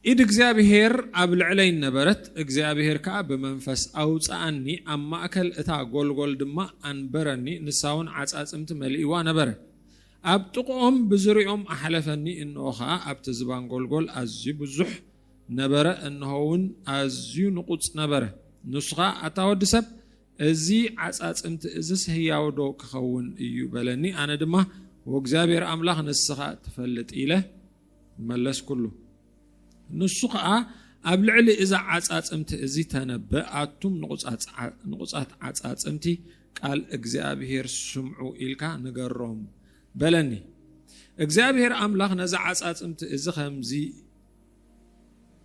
ኢድ እግዚኣብሄር ኣብ ልዕለይ ነበረት፣ እግዚኣብሄር ከኣ ብመንፈስ ኣውጽኣኒ፣ ኣብ ማእከል እታ ጐልጐል ድማ ኣንበረኒ፣ ንሳውን ዓጻጽምቲ መሊእዋ ነበረ። ኣብ ጥቕኦም ብዙርያኦም ኣሕለፈኒ፣ እንሆ ኸኣ ኣብቲ ዝባን ጐልጐል ኣዝዩ ብዙሕ ነበረ፣ እንሆውን ኣዝዩ ንቑጽ ነበረ። ንሱ ኸኣ ኣታ ወዲ ሰብ፣ እዚ ዓጻጽምቲ እዝስ ህያውዶ ኪኸውን እዩ? በለኒ። ኣነ ድማ ወእግዚኣብሄር ኣምላኽ ንስኻ ትፈልጥ ኢለ መለስኩሉ። ንሱ ኸኣ ኣብ ልዕሊ እዛ ዓጻጽምቲ እዚ ተነበ ኣቱም ንቑጻት ዓጻጽምቲ ቃል እግዚኣብሄር ስምዑ ኢልካ ንገሮም በለኒ። እግዚኣብሄር ኣምላኽ ነዚ ዓጻጽምቲ እዚ ከምዚ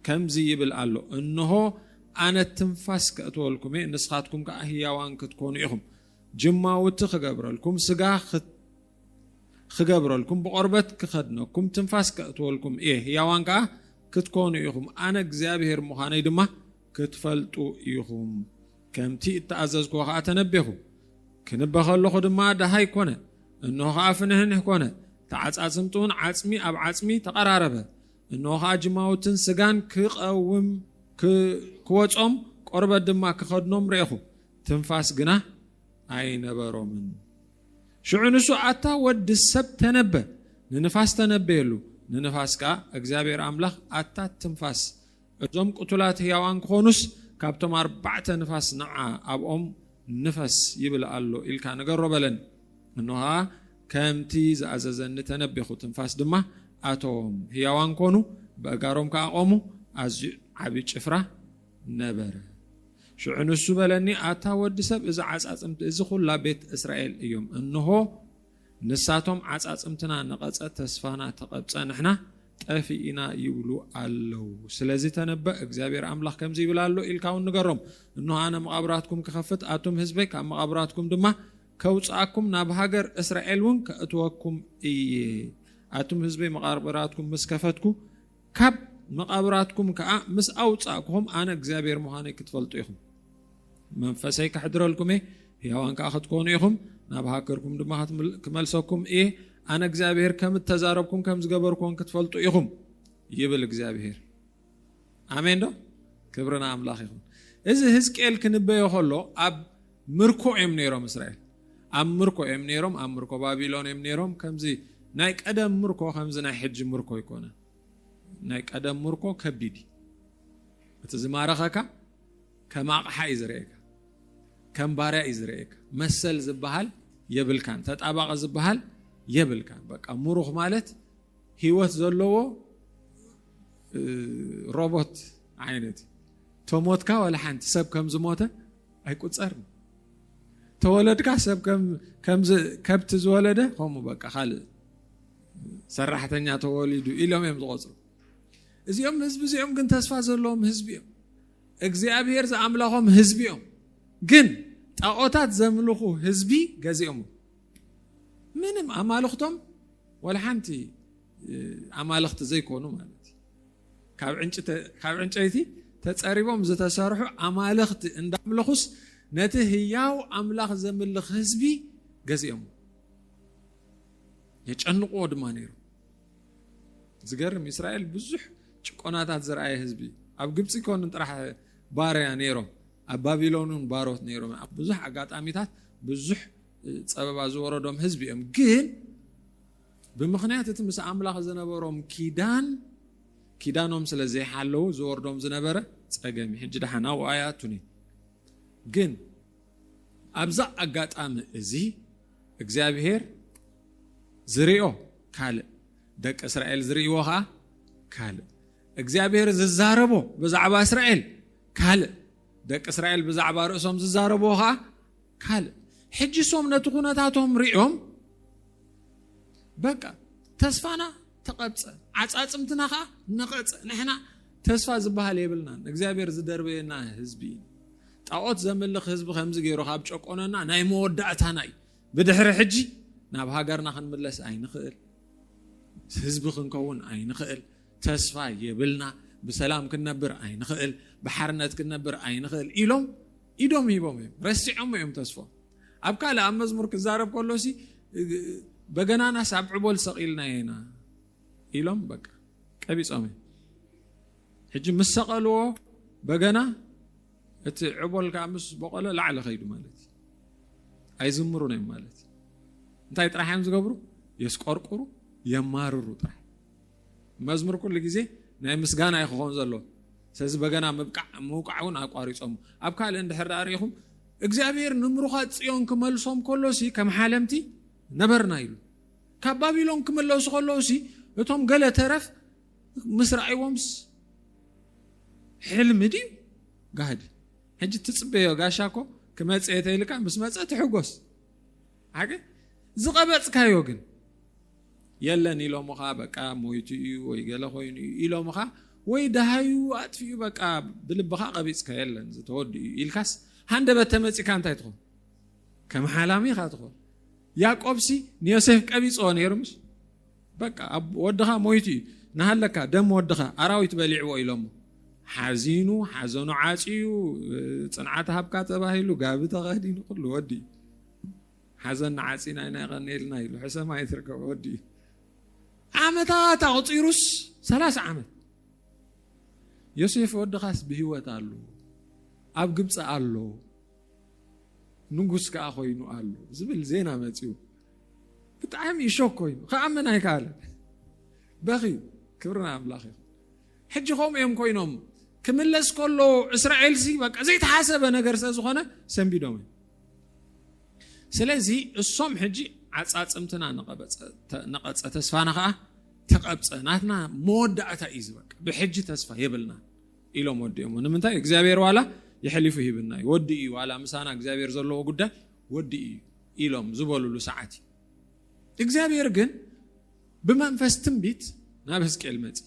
ከምዚ ይብል ኣሎ እንሆ ኣነ ትንፋስ ከእትወልኩም እየ ንስኻትኩም ከዓ ህያዋን ክትኮኑ ኢኹም ጅማውቲ ክገብረልኩም ስጋ ኽገብረልኩም፣ ብቖርበት ክኸድነኩም፣ ትንፋስ ከእትወልኩም እየ፣ ህያዋን ከኣ ክትኰኑ ኢኹም፣ ኣነ እግዚኣብሄር ምዃነይ ድማ ክትፈልጡ ኢኹም። ከምቲ እተኣዘዝክዎ ኸኣ ተነቤኹ። ክንበ ኸለኹ ድማ ደሃይ ኰነ፣ እንሆ ኸኣ ፍንህንህ ኰነ፣ ተዓጻጽምቲውን ዓጽሚ ኣብ ዓጽሚ ተቐራረበ። እንሆ ኸኣ ጅማውትን ስጋን ክቐውም ክወጾም፣ ቈርበት ድማ ክኸድኖም ርኤኹ፣ ትንፋስ ግና ኣይነበሮምን። ሽዑ ንሱ ኣታ ወዲ ሰብ ተነበ፣ ንንፋስ ተነበየሉ፣ ንንፋስ ከኣ እግዚኣብሄር ኣምላኽ ኣታ ትንፋስ እዞም ቅቱላት ህያዋን ክኾኑስ ካብቶም ኣርባዕተ ንፋስ ንዓ ኣብኦም ንፈስ ይብል ኣሎ ኢልካ ንገሮ በለን እንሆ ኸኣ ከምቲ ዝኣዘዘኒ ተነቤኹ ትንፋስ ድማ ኣተዎም ህያዋን ኮኑ በእጋሮም ከኣ ቆሙ ኣዝዩ ዓብዪ ጭፍራ ነበረ። ሽዑ ንሱ በለኒ፣ ኣታ ወዲ ሰብ፣ እዚ ዓጻጽምቲ እዚ ዅላ ቤት እስራኤል እዮም። እንሆ፣ ንሳቶም ዓጻጽምትና ነቐጸ፣ ተስፋና ተቐብጸ፣ ንሕና ጠፊእና ይብሉ ኣለዉ። ስለዚ ተነበእ፣ እግዚኣብሄር ኣምላኽ ከምዚ ይብል ኣሎ ኢልካ እውን ንገሮም፣ እንሆ፣ ኣነ መቓብራትኩም ክኸፍት፣ ኣቱም ህዝበይ ካብ መቓብራትኩም ድማ ከውጽኣኩም፣ ናብ ሃገር እስራኤል እውን ከእትወኩም እየ። ኣቱም ህዝበይ መቓብራትኩም ምስ ከፈትኩ፣ ካብ መቓብራትኩም ከኣ ምስ ኣውጻእኩኹም፣ ኣነ እግዚኣብሄር ምዃነይ ክትፈልጡ ኢኹም። መንፈሰይ ከሕድረልኩም እየ፣ ህያዋን ከኣ ክትኮኑ ኢኹም፣ ናብ ሃገርኩም ድማ ክመልሰኩም እየ፣ ኣነ እግዚኣብሄር ከም እተዛረብኩን ከም ዝገበርኩዎን ክትፈልጡ ኢኹም ይብል እግዚኣብሄር። ኣሜን ዶ? ክብሪ ንኣምላኽ ይኹን። እዚ ህዝቅኤል ክንበዮ ከሎ ኣብ ምርኮ እዮም ነይሮም እስራኤል ኣብ ምርኮ እዮም ነይሮም ኣብ ምርኮ ባቢሎን እዮም ነይሮም ከምዚ ናይ ቀደም ምርኮ ከምዚ ናይ ሕጂ ምርኮ ኣይኮነን ናይ ቀደም ምርኮ ከቢድ እዩ እቲ ዝማረኸካ ከም ኣቕሓ እዩ ዝርእየካ ከም ባርያ እዩ ዝርእየካ መሰል ዝበሃል የብልካን ተጣባቂ ዝበሃል የብልካን በቃ ምሩኽ ማለት ህይወት ዘለዎ ሮቦት ዓይነት ተሞትካ ዋላ ሓንቲ ሰብ ከም ዝሞተ ኣይቁፀርን ተወለድካ ሰብ ከምዚ ከብቲ ዝወለደ ከምኡ በቃ ካልእ ሰራሕተኛ ተወሊዱ ኢሎም እዮም ዝቆፅሩ እዚኦም ህዝቢ እዚኦም ግን ተስፋ ዘለዎም ህዝቢ እዮም እግዚኣብሄር ዝኣምላኾም ህዝቢ እዮም ግን ጣዖታት ዘምልኹ ህዝቢ ገዚኦም ምንም ኣማልኽቶም ወላ ሓንቲ ኣማልኽቲ ዘይኮኑ ማለት እዩ ካብ ዕንጨይቲ ተፀሪቦም ዝተሰርሑ ኣማልኽቲ እንዳምለኹስ ነቲ ህያው ኣምላኽ ዘምልኽ ህዝቢ ገዚኦም የጨንቕዎ ድማ ነይሩ ዝገርም እስራኤል ብዙሕ ጭቆናታት ዝረኣየ ህዝቢ ኣብ ግብፂ ኮን ጥራሕ ባርያ ነይሮም ኣብ ባቢሎን እውን ባሮት ነይሮም ኣብ ብዙሕ ኣጋጣሚታት ብዙሕ ፀበባ ዝወረዶም ህዝቢ እዮም ግን ብምኽንያት እቲ ምስ ኣምላኽ ዝነበሮም ኪዳን፣ ኪዳኖም ስለ ዘይሓለዉ ዝወርዶም ዝነበረ ጸገም እዩ። ሕጂ ደሓን ኣብኡ ኣይኣቱን እዩ። ግን ኣብዛ ኣጋጣሚ እዚ እግዚኣብሄር ዝርኦ ካልእ፣ ደቂ እስራኤል ዝርእይዎ ኸኣ ካልእ። እግዚኣብሄር ዝዛረቦ ብዛዕባ እስራኤል ካልእ፣ ደቂ እስራኤል ብዛዕባ ርእሶም ዝዛረብዎ ኸኣ ካልእ ሕጂ ሶም ነቲ ኩነታቶም ሪኦም በቃ ተስፋና ተቐብፀ ዓፃፅምትና ከዓ ነቐፀ ንሕና ተስፋ ዝበሃል የብልናን እግዚኣብሔር ዝደርበየና ህዝቢ እዩ ጣዖት ዘምልኽ ህዝቢ ከምዚ ገይሩ ካብ ጨቆነና ናይ መወዳእታና እዩ ብድሕሪ ሕጂ ናብ ሃገርና ክንምለስ ኣይንኽእል ህዝቢ ክንከውን ኣይንኽእል ተስፋ የብልና ብሰላም ክንነብር ኣይንኽእል ብሓርነት ክንነብር ኣይንኽእል ኢሎም ኢዶም ሂቦም እዮም ረሲዖሞ እዮም ተስፎ ኣብ ካልእ ኣብ መዝሙር ክዛረብ ከሎሲ በገናናስ ኣብ ዕቦል ሰቒልና ኢና ኢሎም በቃ ቀቢጾም እዮም ሕጂ ምስ ሰቐልዎ በገና እቲ ዕቦል ከዓ ምስ በቆለ ላዕሊ ከይዱ ማለት እዩ ኣይዝምሩን እዮም ማለት እዩ እንታይ ጥራሕ እዮም ዝገብሩ የስቆርቁሩ የማርሩ ጥራሕ መዝሙር ኩሉ ግዜ ናይ ምስጋና እዩ ክኾን ዘለዎ ስለዚ በገና ምብቃዕ ምውቃዕ እውን ኣቋሪፆም ኣብ ካልእ እንድሕር ዳኣ ርኢኹም እግዚኣብሔር ንምሩኻት ፅዮን ክመልሶም ከሎሲ ከም ሓለምቲ ነበርና ኢሉ ካብ ባቢሎን ክምለሱ ከለውሲ እቶም ገለ ተረፍ ምስ ረኣይዎምስ ሕልሚ ድዩ ጋህዲ ሕጂ ትፅበዮ ጋሻ እኮ ክመፀ የተይልካ ምስ መፀ ትሕጎስ ሓቂ ዝቐበፅካዮ ግን የለን ኢሎምኻ በቃ ሞይቱ እዩ ወይ ገለ ኮይኑ እዩ ኢሎምኻ ወይ ደሃዩ ኣጥፊኡ በቃ ብልብኻ ቀቢፅካ የለን ዝተወድኡ እዩ ኢልካስ ሃንደበት ተመፂካ እንታይ ትኾን ከም ሓላሚ ኢኻ ትኾን ያቆብሲ ንዮሴፍ ቀቢፅዎ ነይሩ ምስ በቃ ወድኻ ሞይቱ እዩ ንሃለካ ደም ወድኻ ኣራዊት በሊዕዎ ኢሎሞ ሓዚኑ ሓዘኑ ዓፅዩ ፅንዓት ሃብካ ተባሂሉ ጋቢ ተኸዲኑ ኩሉ ወዲ እዩ ሓዘና ዓጺና ኢና የቐንየልና ኢሉ ሕሰማ ይትርከበ ወዲ እዩ ዓመታት ኣቑፂሩስ ሰላሳ ዓመት ዮሴፍ ወድኻስ ብህይወት ኣሎ ኣብ ግብፂ ኣሎ ንጉስ ከዓ ኮይኑ ኣሎ ዝብል ዜና መፅኡ ብጣዕሚ እሾክ ኮይኑ ከኣምን ኣይከኣለ በኽዩ ክብርና ኣምላኽ እዩ ሕጂ ከምኡ እዮም ኮይኖም ክምለስ ከሎ እስራኤልሲ በቃ ዘይተሓሰበ ነገር ስለ ዝኾነ ሰንቢዶም እዮም ስለዚ እሶም ሕጂ ዓጻጽምትና ነቐጸ ተስፋና ከዓ ተቐብፀ ናትና መወዳእታ እዩ ዝበቅ ብሕጂ ተስፋ የብልና ኢሎም ወዲኦሞ ንምንታይ እግዚኣብሔር ዋላ ይሐሊፉ ሂብና እዩ ወዲ እዩ ዋላ ምሳና እግዚኣብሔር ዘለዎ ጉዳይ ወዲ እዩ ኢሎም ዝበሉሉ ሰዓት እዩ እግዚኣብሔር ግን ብመንፈስ ትንቢት ናብ ህዝቅኤል መፂ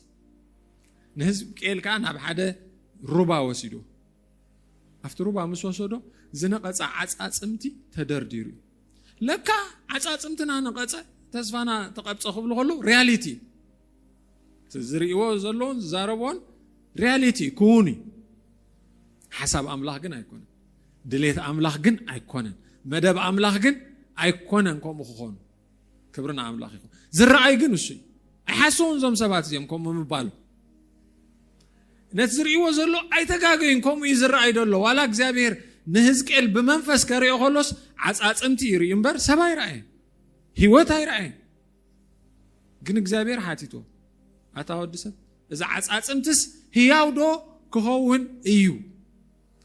ንህዝቅኤል ከዓ ናብ ሓደ ሩባ ወሲዶ ኣብቲ ሩባ ምስ ወሰዶ ዝነቐጸ ዓጻጽምቲ ተደርዲሩ እዩ ለካ ዓጻጽምትና ነቐጸ ተስፋና ተቐብጸ ክብሉ ከሎ ሪያሊቲ ዝርእዎ ዘለዎን ዝዛረብዎን ሪያሊቲ ክውን እዩ ሓሳብ ኣምላኽ ግን ኣይኮነን ድሌት ኣምላኽ ግን ኣይኮነን መደብ ኣምላኽ ግን ኣይኮነን ከምኡ ክኾኑ ክብሪ ንኣምላኽ ይኹን። ዝረኣይ ግን እሱ እዩ። ኣይሓሰውን እዞም ሰባት እዚኦም ከምኡ ምባሉ ነቲ ዝርእይዎ ዘሎ ኣይተጋገዩን ከምኡ እዩ ዝረኣይ ደሎ ዋላ እግዚኣብሄር ንህዝቅኤል ብመንፈስ ከሪኦ ከሎስ ዓፃፅምቲ ይርእዩ እምበር ሰብ ኣይረኣየን ህይወት ኣይረኣየን ግን እግዚኣብሄር ሓቲቶ ኣታ ወዲ ሰብ እዚ ዓፃፅምትስ ህያው ዶ ክኸውን እዩ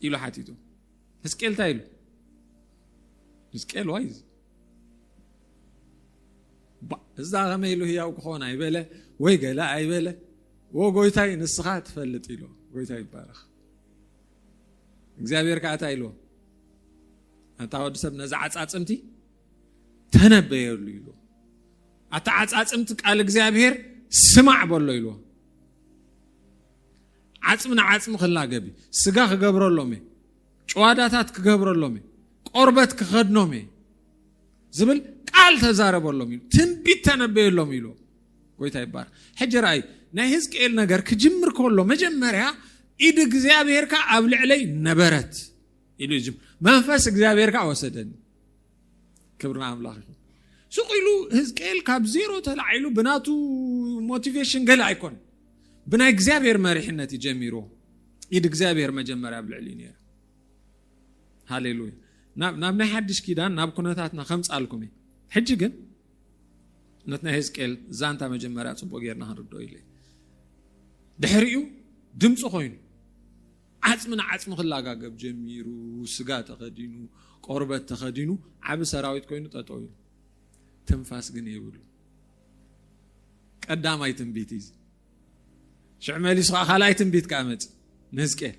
ኢሉ ሓቲቶ ህዝቅኤል እንታይ ኢሉ ህዝቅኤል ዋይ እዛ ከመይ ኢሉ ህያው ክኾን ኣይበለ ወይ ገለ ኣይበለ ወ ጎይታይ ንስኻ ትፈልጥ ኢሉ ጎይታ ይባረኽ እግዚኣብሔር ከዓ እታ ኢልዎ ኣታ ወዲ ሰብ ነዚ ዓፃፅምቲ ተነበየሉ ኢሉ ኣታ ዓፃፅምቲ ቃል እግዚኣብሔር ስማዕ በሎ ኢልዎ ዓፅሚ ንዓፅሚ ክላገብ ስጋ ክገብረሎም እየ ጭዋዳታት ክገብረሎም እየ፣ ቆርበት ክኸድኖም እየ ዝብል ቃል ተዛረበሎም ኢሉ ትንቢት ተነበየሎም ኢሉ ጎይታ ይባር ሕጂ ርኣይ ናይ ህዝቅኤል ነገር ክጅምር ከሎ መጀመርያ ኢድ እግዚኣብሄርካ ኣብ ልዕለይ ነበረት ኢሉ እዩ መንፈስ እግዚኣብሄርካ ወሰደኒ ክብሪ ንኣምላኽ ይኹን። ስቕ ኢሉ ህዝቅኤል ካብ ዜሮ ተላዒሉ ብናቱ ሞቲቬሽን ገለ ኣይኮን ብናይ እግዚኣብሔር መሪሕነት እዩ ጀሚሩ ኢድ እግዚኣብሔር መጀመርያ ኣብ ልዕሊ ነይረ ሃሌሉያ ናብ ናይ ሓድሽ ኪዳን ናብ ኩነታትና ከምፃልኩም እዩ ሕጂ ግን ነት ናይ ህዝቅኤል ዛንታ መጀመርያ ፅቡቅ ጌርና ክንርድኦ ኢለ ድሕሪኡ ድምፂ ኮይኑ ዓጽሚ ንዓጽሚ ክላጋገብ ጀሚሩ፣ ስጋ ተኸዲኑ፣ ቆርበት ተኸዲኑ፣ ዓቢ ሰራዊት ኮይኑ ጠጠው ኢሉ። ትንፋስ ግን የብሉን። ቀዳማይ ትንቢት እዩ። ሽዕ መሊሱ ከዓ ካልኣይ ትንቢት ከዓ መፅ ንህዝቅኤል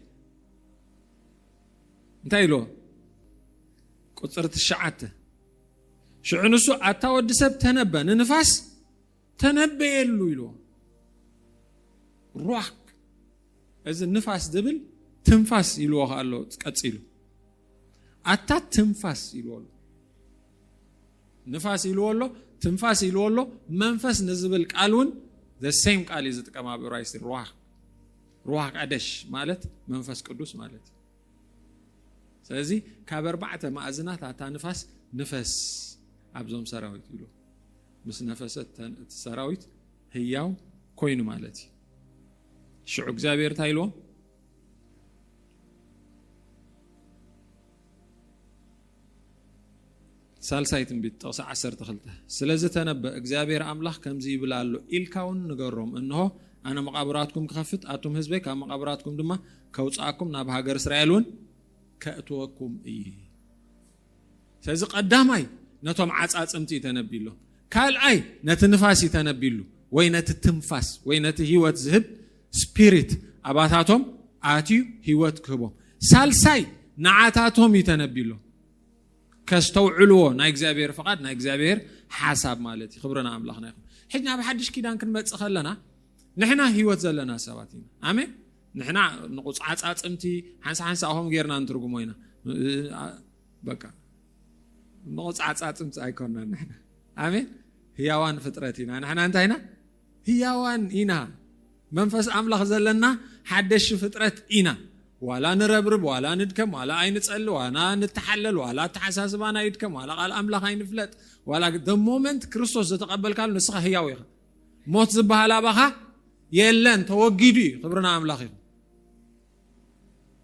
እንታይ ኢልዎ ቁፅሪ ትሽዓተ ሽዑ ንሱ ኣታ ወዲ ሰብ ተነበ ንንፋስ ተነበየሉ ኢልዎ ሩዋክ እዚ ንፋስ ዝብል ትንፋስ ኢልዎ ከ ኣሎ ቀፂሉ ኣታ ትንፋስ ኢልዎ ኣሎ ንፋስ ኢልዎ ኣሎ ትንፋስ ኢልዎ ኣሎ መንፈስ ንዝብል ቃል እውን ዘሴም ቃል እዩ ዝጥቀም ኣብ እብራይስቲ ሩዋ ሩዋ ቀደሽ ማለት መንፈስ ቅዱስ ማለት እዩ ስለዚ ካብ ኣርባዕተ ማእዝናት ኣታ ንፋስ ንፈስ ኣብዞም ሰራዊት ኢሉ ምስ ነፈሰ እቲ ሰራዊት ህያው ኮይኑ ማለት እዩ ሽዑ እግዚኣብሔር እንታይ ኢልዎ ሳልሳይ ትንቢት ጥቕሲ 12 ስለዚ ተነበ እግዚኣብሔር ኣምላኽ ከምዚ ይብል ኣሎ ኢልካ እውን ንገሮም እንሆ ኣነ መቓብራትኩም ክኸፍት ኣቱም ህዝበይ ካብ መቓብራትኩም ድማ ከውፅኣኩም ናብ ሃገር እስራኤል እውን ከእትወኩም እዩ ስለዚ ቀዳማይ ነቶም ዓጻጽምቲ እዩ ተነቢሎም ካልኣይ ነቲ ንፋስ እዩ ተነቢሉ ወይ ነቲ ትንፋስ ወይ ነቲ ህይወት ዝህብ ስፒሪት ኣባታቶም ኣትዩ ህይወት ክህቦም ሳልሳይ ንዓታቶም እዩ ተነቢሎም ከስተውዕልዎ ናይ እግዚኣብሔር ፍቓድ ናይ እግዚኣብሔር ሓሳብ ማለት እዩ ክብርና ኣምላኽና ይኹን ሕጂ ናብ ሓድሽ ኪዳን ክንመፅእ ከለና ንሕና ህይወት ዘለና ሰባት ኢና ኣሜን ንሕና ንቁፅዓፃፅምቲ ሓንሳ ሓንሳኹም ጌርና ንትርጉሞ ኢና በቃ ንቁፅዓፃፅምቲ ኣይኮናን ንሕና ኣሜን ህያዋን ፍጥረት ኢና ንሕና እንታይ ኢና ህያዋን ኢና መንፈስ ኣምላኽ ዘለና ሓደሽ ፍጥረት ኢና ዋላ ንረብርብ ዋላ ንድከም ዋላ ኣይንፀሊ ዋላ ንተሓለል ዋላ ኣተሓሳስባና ይድከም ዋላ ቃል ኣምላኽ ኣይንፍለጥ ዋላ ደ ሞመንት ክርስቶስ ዘተቐበልካሉ ንስኻ ህያው ኢኻ ሞት ዝበሃል ኣባኻ የለን ተወጊዱ እዩ ክብሪ ንኣምላኽ ይኹን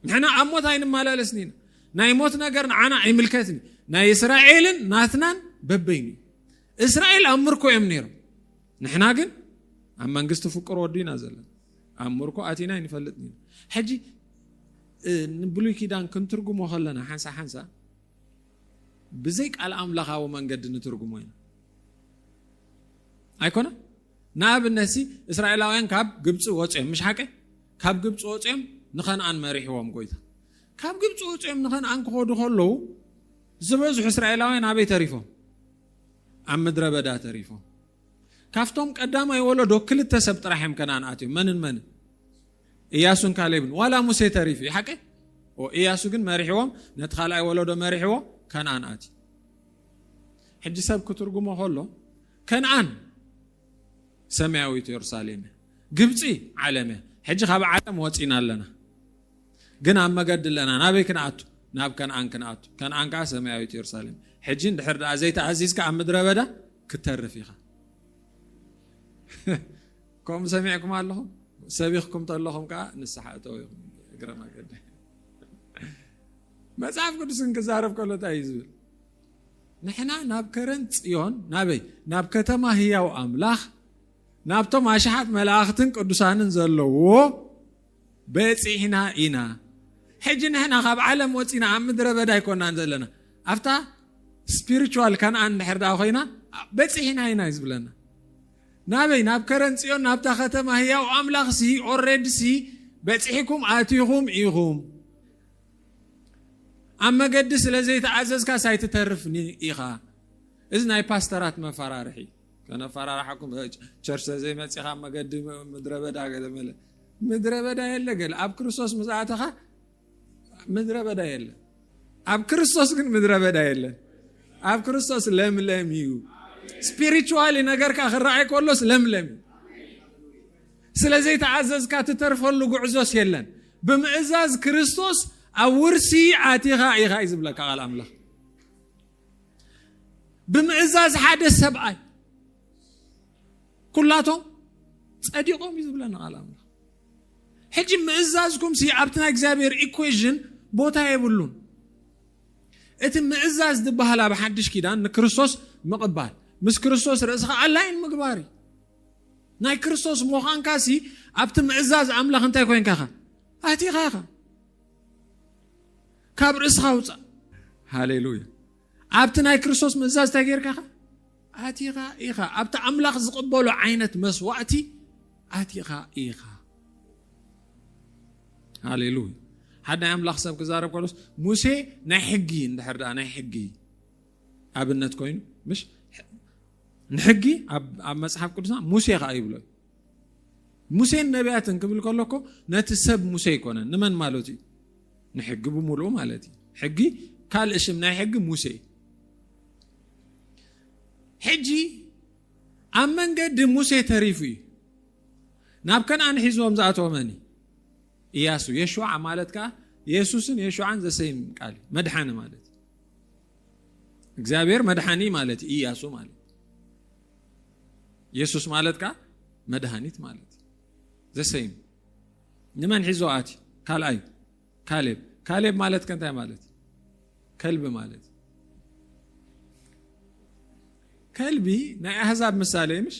ንሕና ኣብ ሞት ኣይንመላለስን ኢና ናይ ሞት ነገር ንዓና ኣይምልከትን እዩ ናይ እስራኤልን ናትናን በበይኑ እዩ እስራኤል ኣብ ምርኮ እዮም ነይሮም ንሕና ግን ኣብ መንግስቲ ፍቅር ወዱ ኢና ዘለና ኣብ ምርኮ ኣቲና ይንፈልጥ ሕጂ ንብሉይ ኪዳን ክንትርጉሞ ከለና ሓንሳ ሓንሳ ብዘይ ቃል ኣምላኻዊ መንገዲ ንትርጉሞ ኢና ኣይኮነ ንኣብነት ሲ እስራኤላውያን ካብ ግብፂ ወፅኦም ምሽ ሓቂ ካብ ግብፂ ወፅኦም ንኸነኣን መሪሕዎም ጎይታ ካብ ግብፂ ወፅኦም ንኸነኣን ክኸዱ ከለዉ ዝበዝሑ እስራኤላውያን ኣበይ ተሪፎም ኣብ ምድረ በዳ ተሪፎም ካብቶም ቀዳማይ ወለዶ ክልተ ሰብ ጥራሕ እዮም ከነኣን ኣትዮም መንን መንን እያሱን ካሌብን ዋላ ሙሴ ተሪፉ እዩ ሓቂ እያሱ ግን መሪሕዎም ነቲ ካልኣይ ወለዶ መሪሕዎ ከነኣን ኣትዩ ሕጂ ሰብ ክትርጉሞ ከሎ ከነኣን ሰማያዊት የሩሳሌም እያ ግብፂ ዓለም እያ ሕጂ ካብ ዓለም ወፂና ኣለና ግን ኣብ መገዲ ኣለና ናበይ ክንኣቱ ናብ ከነኣን ክንኣቱ ከነኣን ከዓ ሰማያዊት የሩሳሌም ሕጂ እንድሕር ደኣ ዘይተኣዚዝካ ኣብ ምድረ በዳ ክተርፍ ኢኻ ከምኡ ሰሚዕኩም ኣለኹም ሰቢኽኩም ተለኹም ከዓ ንስሓ እተው ኢኹም እግረ መገዲ መጽሓፍ ቅዱስ እንክዛረብ ከሎ እንታይ እዩ ዝብል ንሕና ናብ ከረን ፅዮን ናበይ ናብ ከተማ ህያው ኣምላኽ ናብቶም ኣሽሓት መላእኽትን ቅዱሳንን ዘለዎ በፂሕና ኢና ሕጂ ንሕና ካብ ዓለም ወፂና ኣብ ምድረ በዳ ኣይኮናን ዘለና ኣብታ ስፒሪቹዋል ከነኣን ድሕር ዳ ኮይና በፂሕና ኢና እዩ ዝብለና ናበይ ናብ ከረን ጽዮን ናብታ ከተማ ህያው ኣምላኽ ሲ ኦሬድ ሲ በጺሒኩም ኣቲኹም ኢኹም ኣብ መገዲ ስለ ዘይተኣዘዝካስ ኣይትተርፍኒ ኢኻ እዚ ናይ ፓስተራት መፈራርሒ ከነፈራርሓኩም ቸርች ዘይመፂኻ መገዲ ምድረ በዳ ገለ መለ ምድረ በዳ የለ ገለ ኣብ ክርስቶስ ምስ ኣተኻ ምድረ በዳ የለን። ኣብ ክርስቶስ ግን ምድረ በዳ የለን። ኣብ ክርስቶስ ለምለም እዩ። ስፒሪቹዋሊ ነገርካ ክረኣይ ከሎስ ለምለም እዩ። ስለ ዘይተኣዘዝካ ትተርፈሉ ጉዕዞስ የለን። ብምእዛዝ ክርስቶስ ኣብ ውርሲ ኣቲኻ ኢኻ እዩ ዝብለካ ቃል ኣምላኽ። ብምእዛዝ ሓደ ሰብኣይ ኩላቶም ጸዲቖም እዩ ዝብለና ቃል ኣምላኽ። ሕጂ ምእዛዝኩምሲ ኣብቲ ናይ እግዚኣብሔር ኢኩዌዥን ቦታ የብሉን እቲ ምእዛዝ ዝበሃል ኣብ ሓድሽ ኪዳን ንክርስቶስ ምቕባል ምስ ክርስቶስ ርእስኻ ኣላይን ምግባር እዩ ናይ ክርስቶስ ምዃንካሲ ኣብቲ ምእዛዝ ኣምላኽ እንታይ ኮንካ ኻ ኣቲኻ ኢኻ ካብ ርእስኻ ውፃእ ሃሌሉያ ኣብቲ ናይ ክርስቶስ ምእዛዝ እንታይ ጌርካ ኢኻ ኣቲኻ ኢኻ ኣብቲ ኣምላኽ ዝቕበሎ ዓይነት መስዋእቲ ኣቲኻ ኢኻ ሃሌሉያ ሓደ ናይ ኣምላኽ ሰብ ክዛረብ ከሎስ ሙሴ ናይ ሕጊ እንድሕር ደኣ ናይ ሕጊ ኣብነት ኮይኑ ምሽ ንሕጊ ኣብ መጽሓፍ ቅዱስና ሙሴ ከዓ ይብሎ ሙሴን ነቢያትን ክብል ከሎ እኮ ነቲ ሰብ ሙሴ ኣይኮነን ንመን ማለት እዩ ንሕጊ ብምሉኡ ማለት እዩ ሕጊ ካልእ ሽም ናይ ሕጊ ሙሴ ሕጂ ኣብ መንገዲ ሙሴ ተሪፉ እዩ ናብ ከነኣን ሒዝዎም ዝኣተወ መን እያሱ የሸዓ ማለት ከዓ የሱስን የሸዓን ዘሰይም ቃል መድሓኒ ማለት እግዚኣብሔር መድሓኒ ማለት እዩ እያሱ ማለት የሱስ ማለት ከኣ መድሃኒት ማለት እዩ ዘሰይም ንመን ሒዞ ኣቲ ካልኣይ ካሌብ ካሌብ ማለት ከእንታይ ማለት እዩ ከልቢ ማለት እዩ ከልቢ ናይ ኣህዛብ ምሳሌ እዩ ምሽ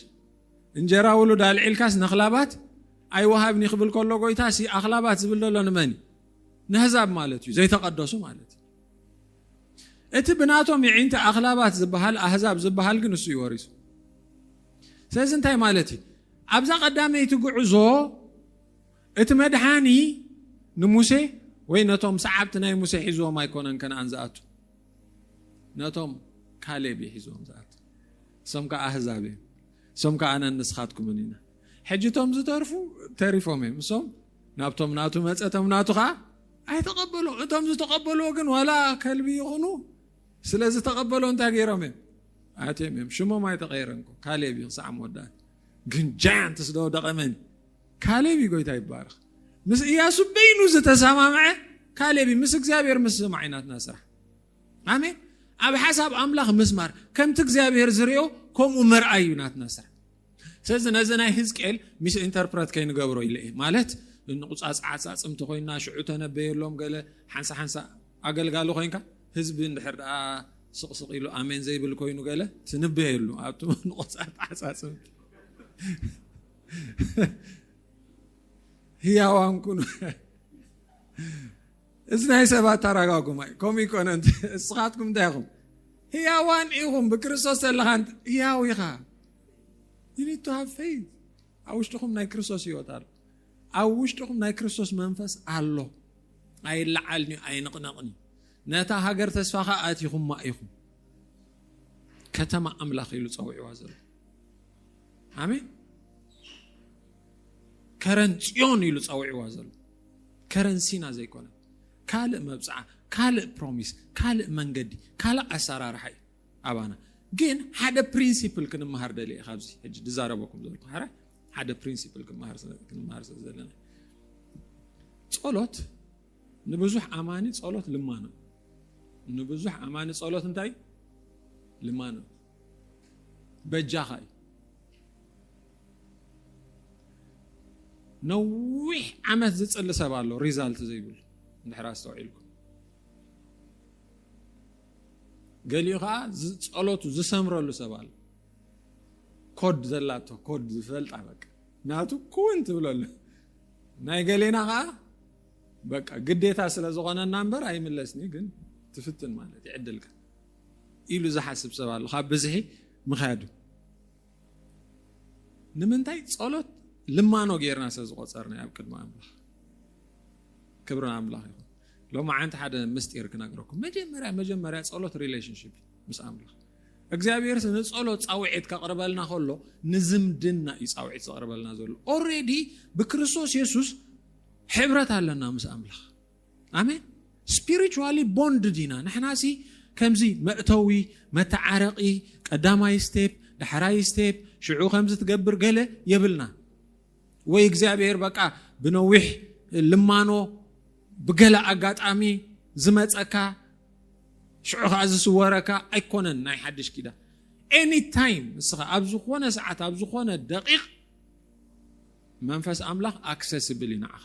እንጀራ ውሉድ ኣልዒልካስ ነኽላባት ኣይወሃብኒ ክብል ከሎ ጎይታ ሲ ኣኽላባት ዝብል ዘሎ ንመን እዩ ነህዛብ ማለት እዩ ዘይተቐደሱ ማለት እዩ እቲ ብናቶም የዒንቲ ኣኽላባት ዝበሃል ኣህዛብ ዝበሃል ግን እሱ እዩ ወሪሱ ስለዚ እንታይ ማለት እዩ ኣብዛ ቀዳመይቲ ጉዕዞ እቲ መድሓኒ ንሙሴ ወይ ነቶም ሰዓብቲ ናይ ሙሴ ሒዝዎም ኣይኮነን ከነኣን ዝኣቱ ነቶም ካሌብ እዩ ሒዝዎም ዝኣቱ እሶም ከዓ ኣህዛብ እዮም እሶም ከዓ ኣነን ንስኻትኩምን ኢና ሕጂ እቶም ዝተርፉ ተሪፎም እዮም። እሶም ናብቶም ናቱ መጸ፣ እቶም ናቱ ኸዓ ኣይተቐበሎ። እቶም ዝተቐበልዎ ግን ዋላ ከልቢ ይኹኑ ስለ ዝተቐበሎ እንታይ ገይሮም እዮም? ኣትዮም እዮም። ሽሞም ኣይተቐየረን እኮ ካሌብ እዩ ክሳዕ መወዳእታ። ግን ጃያንት ስለ ወደቐ መን ካሌብ እዩ ጎይታ ይባረኽ። ምስ እያሱ በይኑ ዝተሰማምዐ ካሌብ እዩ። ምስ እግዚኣብሔር ምስ ሰማዒናትና ስራሕ ኣሜን። ኣብ ሓሳብ ኣምላኽ ምስማር ከምቲ እግዚኣብሔር ዝርኦ ከምኡ ምርኣይ እዩ ናትና ስራሕ። ስለዚ ነዚ ናይ ህዝቅኤል ሚስ ኢንተርፕረት ከይንገብሮ ኢለ እየ ማለት ንቁፃፅ ዓፃፅምቲ ኮይና ሽዑ ተነበየሎም ገለ ሓንሳ ሓንሳ ኣገልጋሊ ኮይንካ ህዝቢ እንድሕር ደኣ ስቕስቕ ኢሉ ኣሜን ዘይብል ኮይኑ ገለ ትንበየሉ ኣብቲ ንቆፃር ተዓፃፅም ህያዋን ኩኑ እዚ ናይ ሰብ ኣተራጋጉማ እዩ ከምኡ ይኮነ እስኻትኩም እንታይ ኢኹም ህያዋን ኢኹም ብክርስቶስ ዘለኻ ህያው ኢኻ ዩኒቱ ሃብ ፈይዝ ኣብ ውሽጥኹም ናይ ክርስቶስ ህይወት ኣሎ ኣብ ውሽጥኹም ናይ ክርስቶስ መንፈስ ኣሎ ኣይለዓልን እዩ ኣይንቕነቕን እዩ ነታ ሃገር ተስፋኻ ኣትኹማ ኢኹም ከተማ ኣምላኽ ኢሉ ፀዊዕዋ ዘሎ ኣሜን ከረን ፅዮን ኢሉ ፀዊዕዋ ዘሎ ከረንሲና ዘይኮነ ካልእ መብጽዓ ካልእ ፕሮሚስ ካልእ መንገዲ ካልእ ኣሰራርሓ እዩ ኣባና ግን ሓደ ፕሪንሲፕል ክንመሃር ደልየ ካብዚ ሕጂ ዝዛረበኩም ዘለኩ ሓራ ሓደ ፕሪንሲፕል ክንመሃር ስለ ዘለና ጸሎት ንብዙሕ ኣማኒ ጸሎት ልማኖ ንብዙሕ ኣማኒ ጸሎት እንታይ ልማኖ በጃኻ እዩ ነዊሕ ዓመት ዝፅሊ ሰብ ኣሎ ሪዛልት ዘይብሉ እንድሕር ኣስተውዒልኩም ገሊኡ ከዓ ጸሎቱ ዝሰምረሉ ሰብ ኣሎ ኮድ ዘላቶ ኮድ ዝፈልጣ በቃ ናቱ ኩውን ትብለሉ ናይ ገሌና ከዓ በቃ ግዴታ ስለ ዝኾነና እምበር ኣይምለስኒ ግን ትፍትን ማለት ይዕድልካ ኢሉ ዝሓስብ ሰብ ኣሎ ካብ ብዝሒ ምክያዱ ንምንታይ ጸሎት ልማኖ ጌርና ስለ ዝቆጸርና ኣብ ቅድሚ ኣምላኽ ክብሪ ኣምላኽ ይኹን ሎሚ ዓንቲ ሓደ ምስጢር ክነግረኩም መጀመርያ መጀመርያ ጸሎት ሪሌሽንሽፕ ምስ ኣምላኽ እግዚኣብሔር ንጸሎት ፃውዒት ከቕርበልና ከሎ ንዝምድና እዩ ፃውዒት ዘቕርበልና ዘሎ ኦሬዲ ብክርስቶስ የሱስ ሕብረት ኣለና ምስ ኣምላኽ ኣሜን ስፒሪቹዋሊ ቦንድድ ኢና ንሕናሲ ከምዚ መእተዊ መተዓረቒ ቀዳማይ ስቴፕ ዳሕራይ ስቴፕ ሽዑ ከምዚ ትገብር ገለ የብልና ወይ እግዚኣብሔር በቃ ብነዊሕ ልማኖ ብገለ ኣጋጣሚ ዝመፀካ ሽዑ ከዓ ዝስወረካ ኣይኮነን ናይ ሓድሽ ኪዳ ኤኒ ታይም ንስኻ ኣብ ዝኾነ ሰዓት ኣብ ዝኾነ ደቂቕ መንፈስ ኣምላኽ ኣክሰስብል እዩ ንዓኻ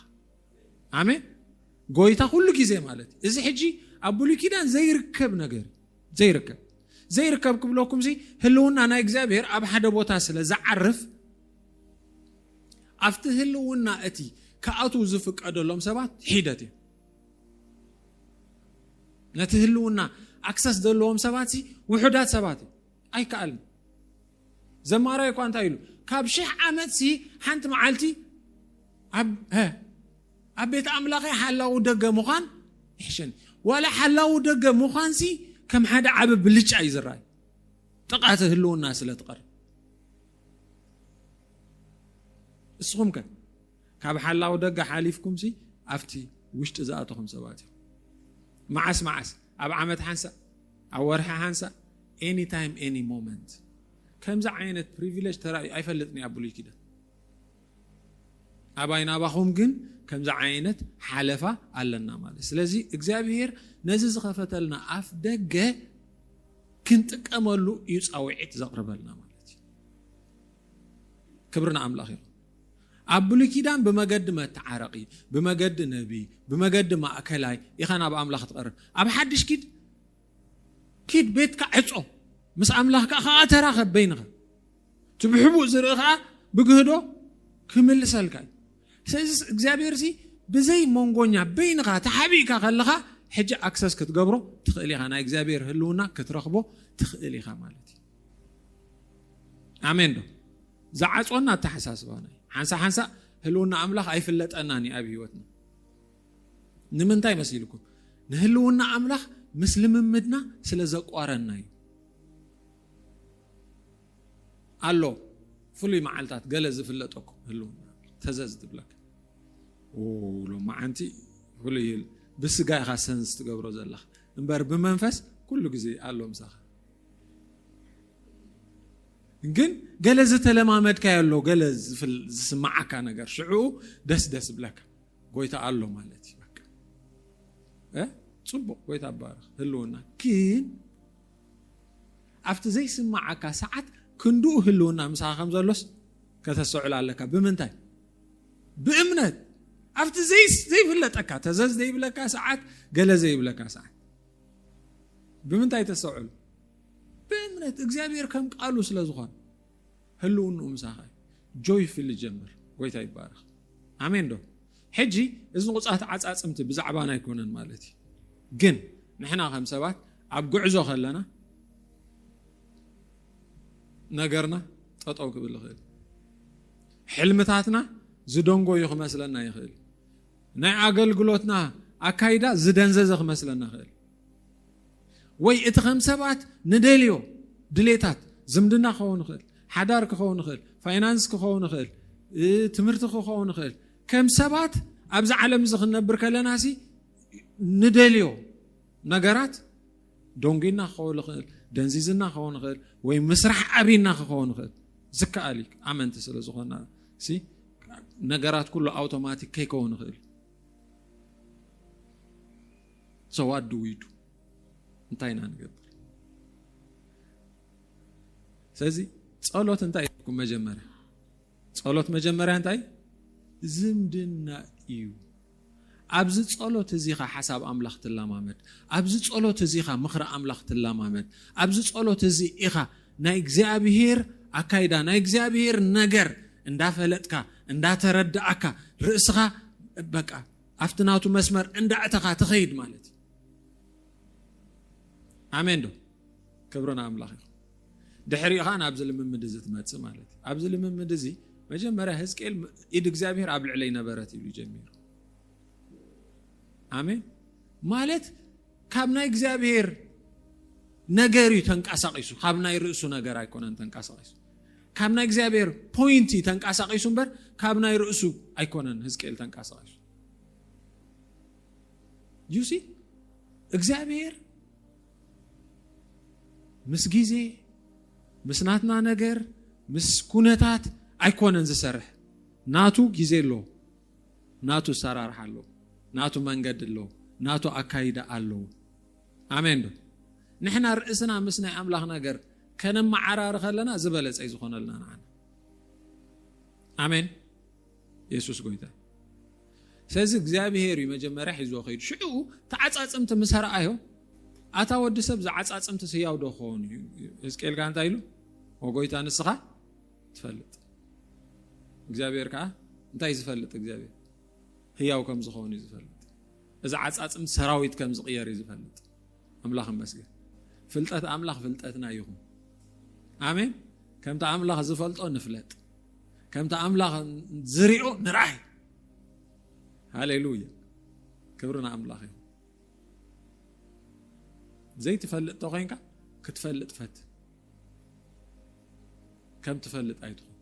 ኣሜን ጎይታ ኩሉ ግዜ ማለት እዩ እዚ ሕጂ ኣብ ብሉይ ኪዳን ዘይርከብ ነገር ዘይርከብ ዘይርከብ ክብለኩም ሲ ህልውና ናይ እግዚኣብሔር ኣብ ሓደ ቦታ ስለ ዝዓርፍ ኣብቲ ህልውና እቲ ክኣትዉ ዝፍቀደሎም ሰባት ሒደት እዩ ነቲ ህልውና ኣክሰስ ዘለዎም ሰባት ውሑዳት ሰባት እዩ ኣይከኣልን ዘማራይ እኳ እንታይ ኢሉ ካብ ሽሕ ዓመት ሲ ሓንቲ መዓልቲ ኣብ ቤት ኣምላኸ ሓላዊ ደገ ምዃን ይሕሸኒ ዋላ ሓላዊ ደገ ምዃን ሲ ከም ሓደ ዓበ ብልጫ እዩ ዝረኣዩ ጥቓተ ህልውና ስለ ትቐርብ እስኹም ከ ካብ ሓላው ደገ ሓሊፍኩምሲ ኣብቲ ውሽጢ ዝኣተኹም ሰባት ኢኹም። መዓስ መዓስ ኣብ ዓመት ሓንሳእ ኣብ ወርሒ ሓንሳእ ኤኒ ታይም ኤኒ ሞመንት ከምዚ ዓይነት ፕሪቪሌጅ ተራእዩ ኣይፈልጥን ኣብ ብሉይ ኪዳን ኣባይ ናባኹም ግን ከምዚ ዓይነት ሓለፋ ኣለና ማለት ስለዚ እግዚኣብሄር ነዚ ዝኸፈተልና ኣፍ ደገ ክንጥቀመሉ እዩ ፃውዒት ዘቕርበልና ማለት እዩ ክብሪ ንኣምላኽ ይኹን ኣብ ብሉይ ኪዳን ብመገዲ መተዓረቂ፣ ብመገዲ ነቢይ፣ ብመገዲ ማእከላይ ኢኻ ናብ ኣምላኽ ትቐርብ። ኣብ ሓድሽ ኪድ ኪድ ቤትካ ዕጾ፣ ምስ ኣምላኽካ ከኣ ተራኸብ በይንኻ። እቲ ብሕቡእ ዝርኢ ከኣ ብግህዶ ክምልሰልካ እዩ። ስለዚ እግዚኣብሔርሲ ብዘይ መንጎኛ በይንኻ ተሓቢእካ ከለኻ ሕጂ ኣክሰስ ክትገብሮ ትኽእል ኢኻ፣ ናይ እግዚኣብሔር ህልውና ክትረኽቦ ትኽእል ኢኻ ማለት እዩ። ኣሜን ዶ ዝዓፅወና ኣተሓሳስባና እዩ ሓንሳ ሓንሳ ህልውና ኣምላኽ ኣይፍለጠናን እዩ ኣብ ህይወትና ንምንታይ መሲልኩም ንህልውና ኣምላኽ ምስ ልምምድና ስለ ዘቋረና እዩ ኣሎ ፍሉይ መዓልታት ገለ ዝፍለጠኩም ህልውና ተዘዝ ትብለካ ሎመዓንቲ ፍሉይ ብስጋ ኢኻ ሰንስ ትገብሮ ዘለኻ እምበር ብመንፈስ ኩሉ ግዜ ኣሎ ምሳኻ ግን ገለ ዝተለማመድካዮ ኣሎ ገለ ዝፍል- ዝስምዓካ ነገር ሽዕኡ ደስ ደስ ብለካ ጎይታ ኣሎ ማለት እዩ በቃ እ? ፅቡቅ ጎይታ ባርኽ ህልውና ግን ኣብቲ ዘይስምዓካ ሰዓት ክንድኡ ህልውና ምሳኻ ከም ዘሎስ ከተስተውዕል ኣለካ ብምንታይ ብእምነት ኣብቲ ዘይ- ዘይፍለጠካ ተዘዝ ዘይብለካ ሰዓት ገለ ዘይብለካ ሰዓት ብምንታይ ተሰዕሉ? ብእምነት እግዚኣብሔር ከም ቃሉ ስለ ዝኾነ ህልውንኡ ምሳኻ እዩ። ጆይፍሊ ጀምር። ጎይታ ይባረኽ። ኣሜን ዶ? ሕጂ እዚ ቁፃት ዓፃፅምቲ ብዛዕባና ኣይኮነን ማለት እዩ። ግን ንሕና ከም ሰባት ኣብ ጉዕዞ ከለና ነገርና ጠጠው ክብል ይኽእል፣ ሕልምታትና ዝደንጎዩ ክመስለና ይኽእል፣ ናይ ኣገልግሎትና ኣካይዳ ዝደንዘዘ ክመስለና ኽእል ወይ እቲ ከም ሰባት ንደልዮ ድሌታት ዝምድና ክኸውን ይኽእል ሓዳር ክኸውን ይኽእል ፋይናንስ ክኸውን ይኽእል ትምህርቲ ክኸውን ይኽእል ከም ሰባት ኣብዚ ዓለም እዚ ክንነብር ከለና ሲ ንደልዮ ነገራት ደንጒና ክኸውን ይኽእል፣ ደንዚዝና ክኸውን ይኽእል፣ ወይ ምስራሕ ኣብና ክኸውን ይኽእል። ዝከኣል እዩ ኣመንቲ ስለ ዝኾና ነገራት ኩሉ ኣውቶማቲክ ከይከውን ይኽእል እዩ። ሰዋዱ ውይዱ እንታይ ኢና ንገብር? ስለዚ ጸሎት እንታይ እዩኩም? መጀመርያ ጸሎት መጀመርያ እንታይ ዝምድና እዩ። ኣብዚ ጸሎት እዚ ኢኻ ሓሳብ ኣምላኽ ትለማመድ። ኣብዚ ጸሎት እዚ ኢኻ ምኽሪ ኣምላኽ ትለማመድ። ኣብዚ ጸሎት እዚ ኢኻ ናይ እግዚኣብሄር ኣካይዳ፣ ናይ እግዚኣብሄር ነገር እንዳፈለጥካ፣ እንዳተረዳእካ፣ ርእስኻ በቃ ኣብቲ ናቱ መስመር እንዳእተኻ ትኸይድ ማለት እዩ። ኣሜን ዶ? ክብሪ ንኣምላኽ ይኹን። ድሕሪኡ ኸኣ ናብዚ ልምምድ እዚ ትመጽእ ማለት እዩ። ኣብዚ ልምምድ እዚ መጀመርያ ህዝቅኤል ኢድ እግዚኣብሄር ኣብ ልዕለይ ነበረት ኢሉ ጀሚሩ። ኣሜን ማለት ካብ ናይ እግዚኣብሄር ነገር እዩ ተንቀሳቒሱ፣ ካብ ናይ ርእሱ ነገር ኣይኮነን ተንቀሳቒሱ። ካብ ናይ እግዚኣብሄር ፖይንት እዩ ተንቀሳቒሱ እምበር ካብ ናይ ርእሱ ኣይኮነን ህዝቅኤል ተንቀሳቒሱ። ዩሲ እግዚኣብሄር ምስ ግዜ ምስ ናትና ነገር ምስ ኩነታት ኣይኮነን ዝሰርሕ ናቱ ግዜ ኣሎ ናቱ ኣሰራርሓ ኣሎ ናቱ መንገዲ ኣሎ ናቱ ኣካይዳ ኣሎ ኣሜን ዶ ንሕና ርእስና ምስ ናይ ኣምላኽ ነገር ከነመዓራሪ ከለና ዝበለጸ እዩ ዝኾነልና ንዓና ኣሜን የሱስ ጎይታ ስለዚ እግዚኣብሄር እዩ መጀመርያ ሒዝዎ ከይዱ ሽዑኡ ተዓፃፅምቲ ምስ ረኣዮ ኣታ ወዲ ሰብ ዝዓፃፅምቲ ስያው ዶ ክኸውን እዩ ህዝቅኤል ከዓ እንታይ ኢሉ ወጎይታ ንስኻ ትፈልጥ እግዚኣብሄር ከዓ እንታይ ዝፈልጥ እግዚኣብሄር ህያው ከም ዝኸውን እዩ ዝፈልጥ እዚ ዓፃፅምቲ ሰራዊት ከም ዝቕየር እዩ ዝፈልጥ ኣምላኽ ይመስገን። ፍልጠት ኣምላኽ ፍልጠትና ይኹን። ኣሜን። ከምቲ ኣምላኽ ዝፈልጦ ንፍለጥ፣ ከምቲ ኣምላኽ ዝሪኦ ንርኣይ። ሃሌሉያ! ክብሪ ንኣምላኽ ይኹን። ዘይትፈልጥ ተኮይንካ ክትፈልጥ ፈት ከም ትፈልጥ ኣይትኹን።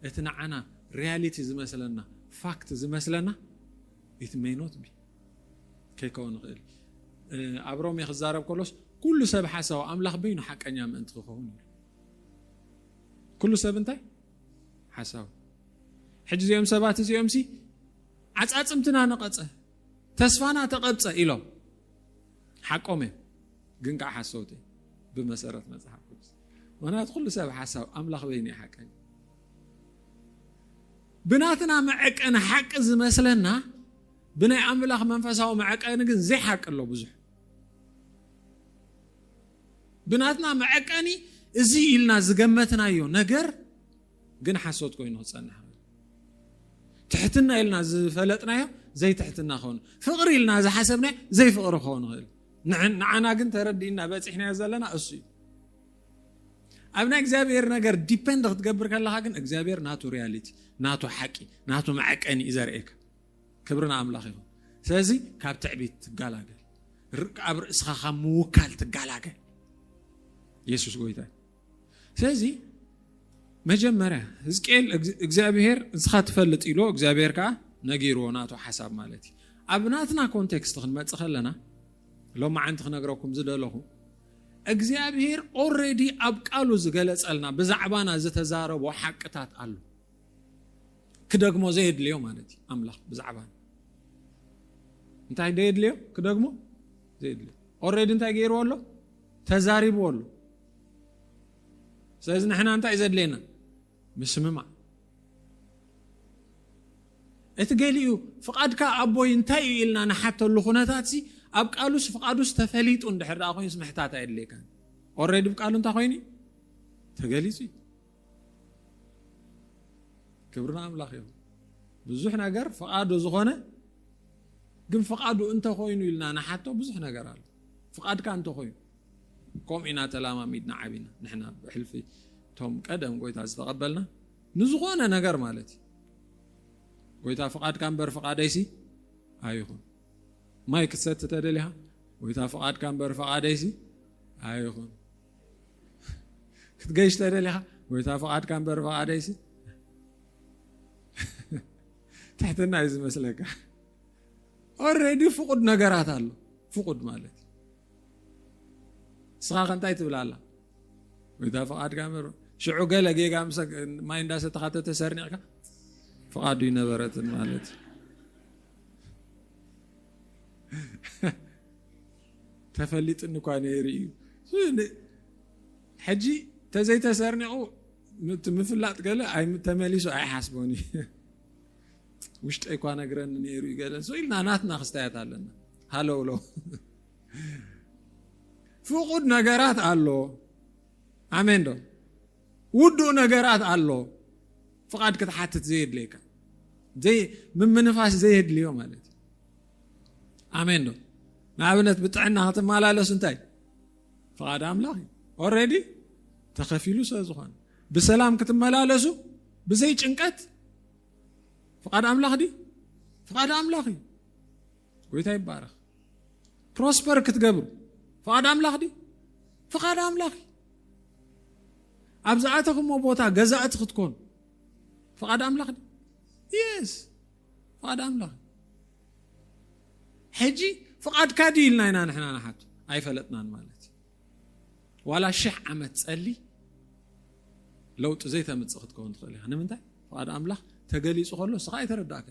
እቲ ንዓና ሪያሊቲ ዝመስለና ፋክት ዝመስለና ኢት ሜይ ኖት ቢ ከይከውን ይኽእል ኣብ ሮሜ ክዛረብ ከሎስ ኩሉ ሰብ ሓሳዊ ኣምላኽ በይኑ ሓቀኛ ምእንቲ ክኸውን እዩ ኩሉ ሰብ እንታይ ሓሳዊ ሕጂ እዚኦም ሰባት እዚኦም ሲ ዓፃፅምትና ነቐፀ ተስፋና ተቐብፀ ኢሎም ሓቆም እዮም ግን ከዓ ሓሰውቲ ብመሰረት መፅሓፍ ቅዱስ ምክንያቱ ኩሉ ሰብ ሓሳብ ኣምላኽ በይኑ እዩ ሓቀኛ ብናትና መዐቀኒ ሓቂ ዝመስለና ብናይ ኣምላኽ መንፈሳዊ መዐቀኒ ግን ዘይሓቂ ኣሎ ብዙሕ። ብናትና መዐቀኒ እዚ ኢልና ዝገመትናዮ ነገር ግን ሓሶት ኮይኑ ክጸንሕ ትሕትና ኢልና ዝፈለጥናዮ ዘይትሕትና ክኸውን ፍቕሪ ኢልና ዝሓሰብናዮ ዘይፍቕሪ ክኸውን ይኽእል ንዓና ግን ተረዲእና በፂሕናዮ ዘለና እሱ እዩ ኣብ ናይ እግዚኣብሔር ነገር ዲፐንድ ክትገብር ከለካ ግን እግዚኣብሔር ናቱ ሪያሊቲ ናቱ ሓቂ ናቱ መዐቀኒ እዩ ዘርእየካ ክብሪ ንኣምላኽ ይኹን። ስለዚ ካብ ትዕቢት ትጋላገል ኣብ ርእስኻ ካብ ምውካል ትጋላገል የሱስ ጎይታ ስለዚ መጀመርያ ህዝቅኤል እግዚኣብሄር ንስኻ ትፈልጥ ኢሎ እግዚኣብሄር ከዓ ነጊርዎ ናቱ ሓሳብ ማለት እዩ ኣብ ናትና ኮንቴክስት ክንመፅእ ከለና ሎማዓንቲ ክነግረኩም ዝደለኹ እግዚኣብሄር ኦረዲ ኣብ ቃሉ ዝገለፀልና ብዛዕባና ዝተዛረቦ ሓቅታት ኣሎ ክደግሞ ዘየድልዮ ማለት እዩ ኣምላኽ ብዛዕባ እንታይ ዘየድልዮ ክደግሞ ዘየድልዮ ኦረዲ እንታይ ገይርዎ ኣሎ ተዛሪብዎ ኣሎ ስለዚ ንሕና እንታይ እዩ ዘድልየና ምስምማዕ እቲ ገሊኡ ፍቓድካ ኣቦይ እንታይ እዩ ኢልና ንሓተሉ ኩነታት ሲ ኣብ ቃሉስ ፍቓዱስ ተፈሊጡ እንድሕር ኣ ኮይኑስ ምሕታት ኣየድልየካ ኦረዲ ብ ቃሉ እንታይ ኮይኑ ተገሊፁ እዩ ክብሪ ንኣምላኽ ይኹን። ብዙሕ ነገር ፍቓዱ ዝኾነ ግን ፍቓዱ እንተኾይኑ ኢልና ንሓቶ ብዙሕ ነገር ኣሎ። ፍቓድካ እንተኾይኑ ከምኡ ኢና ተላማሚድና ዓቢና ንሕና ብሕልፊ እቶም ቀደም ጎይታ ዝተቐበልና ንዝኾነ ነገር ማለት እዩ ጎይታ ፍቓድካ እምበር ፍቓደይሲ ኣይኹን ማይ ክትሰቲ ተደሊኻ ጎይታ ፍቓድካ እምበር ፍቓደይሲ ኣይኹን ክትገይሽ ተደሊኻ ጎይታ ፍቓድካ እምበር ፍቓደይሲ ትሕትና እዩ ዝመስለካ። ኦልሬዲ ፍቁድ ነገራት ኣሎ። ፍቁድ ማለት ንስኻ ከእንታይ ትብል ኣላ ጎይታ ፍቓድካ እምበር ሽዑ ገለ ጌጋ ማይ እንዳሰተኻ ተተሰርኒዕካ ፍቓዱ ይነበረትን ማለት እዩ ተፈሊጥኒ እኳ ነይሩ እዩ ሕጂ ተዘይተሰርኒቑ ምፍላጥ ገለ ተመሊሱ ኣይሓስቦን እዩ ውሽጠይ እኳ ነግረኒ ነይሩ እዩ ገለ ሰው ኢልና ናትና ክስታያት ኣለና ሃለውሎ ፍቁድ ነገራት ኣሎ ኣሜን ዶ ውዱእ ነገራት ኣሎ ፍቓድ ክትሓትት ዘየድልየካ ምምንፋስ ዘየድልዮ ማለት እዩ ኣሜን ዶ ንኣብነት ብጥዕና ክትመላለስ እንታይ ፍቓድ ኣምላኽ እዩ ኦረዲ ተኸፊሉ ስለ ዝኾነ ብሰላም ክትመላለሱ ብዘይ ጭንቀት ፍቓድ ኣምላኽ ድ ፍቓድ ኣምላኽ እዩ ጎይታ ይባረኽ ፕሮስፐር ክትገብሩ ፍቓድ ኣምላኽ ድ ፍቓድ ኣምላኽ እዩ ኣብ ዝኣተኹሞ ቦታ ገዛእቲ ክትኮኑ ፍቓድ ኣምላኽ ድ የስ ፍቓድ ኣምላኽ ሕጂ ፍቓድካ ድዩ ኢልና ኢና ንሕና ንሓት ኣይፈለጥናን ማለት እዩ ዋላ ሽሕ ዓመት ጸሊ ለውጢ ዘይተምፅእ ክትከውን ትኽእል ኢኻ ንምንታይ ፍቓድ ኣምላኽ ተገሊፁ ከሎ እስኻ ኣይተረዳእካ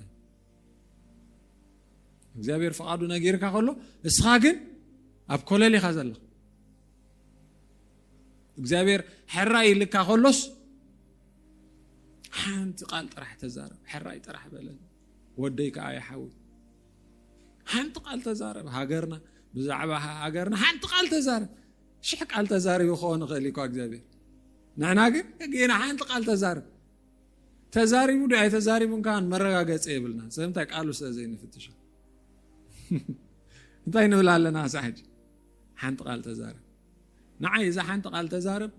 እግዚኣብሔር ፍቓዱ ነጊርካ ከሎ እስኻ ግን ኣብ ኮለል ኢኻ ዘለኻ እግዚኣብሔር ሕራይ ይልካ ከሎስ ሓንቲ ቃል ጥራሕ ተዛረብ ሕራይ ጥራሕ በለን ወደይ ከዓ ይሓዊ ሓንቲ ቃል ተዛረብ ሃገርና ብዛዕባ ሃገርና ሓንቲ ቃል ተዛረብ ሽሕ ቃል ተዛሪቡ ክኸውን ይኽእል እኳ እግዚኣብሔር ንሕና ግን ግና ሓንቲ ቃል ተዛርብ ተዛሪቡ ዶ ኣይተዛሪቡን ከዓ መረጋገፂ የብልና ስለምንታይ ቃሉ ስለ ዘይንፍትሾ እንታይ ንብል ኣለና ሳሕጂ ሓንቲ ቃል ተዛረብ ንዓይ እዛ ሓንቲ ቃል ተዛረብ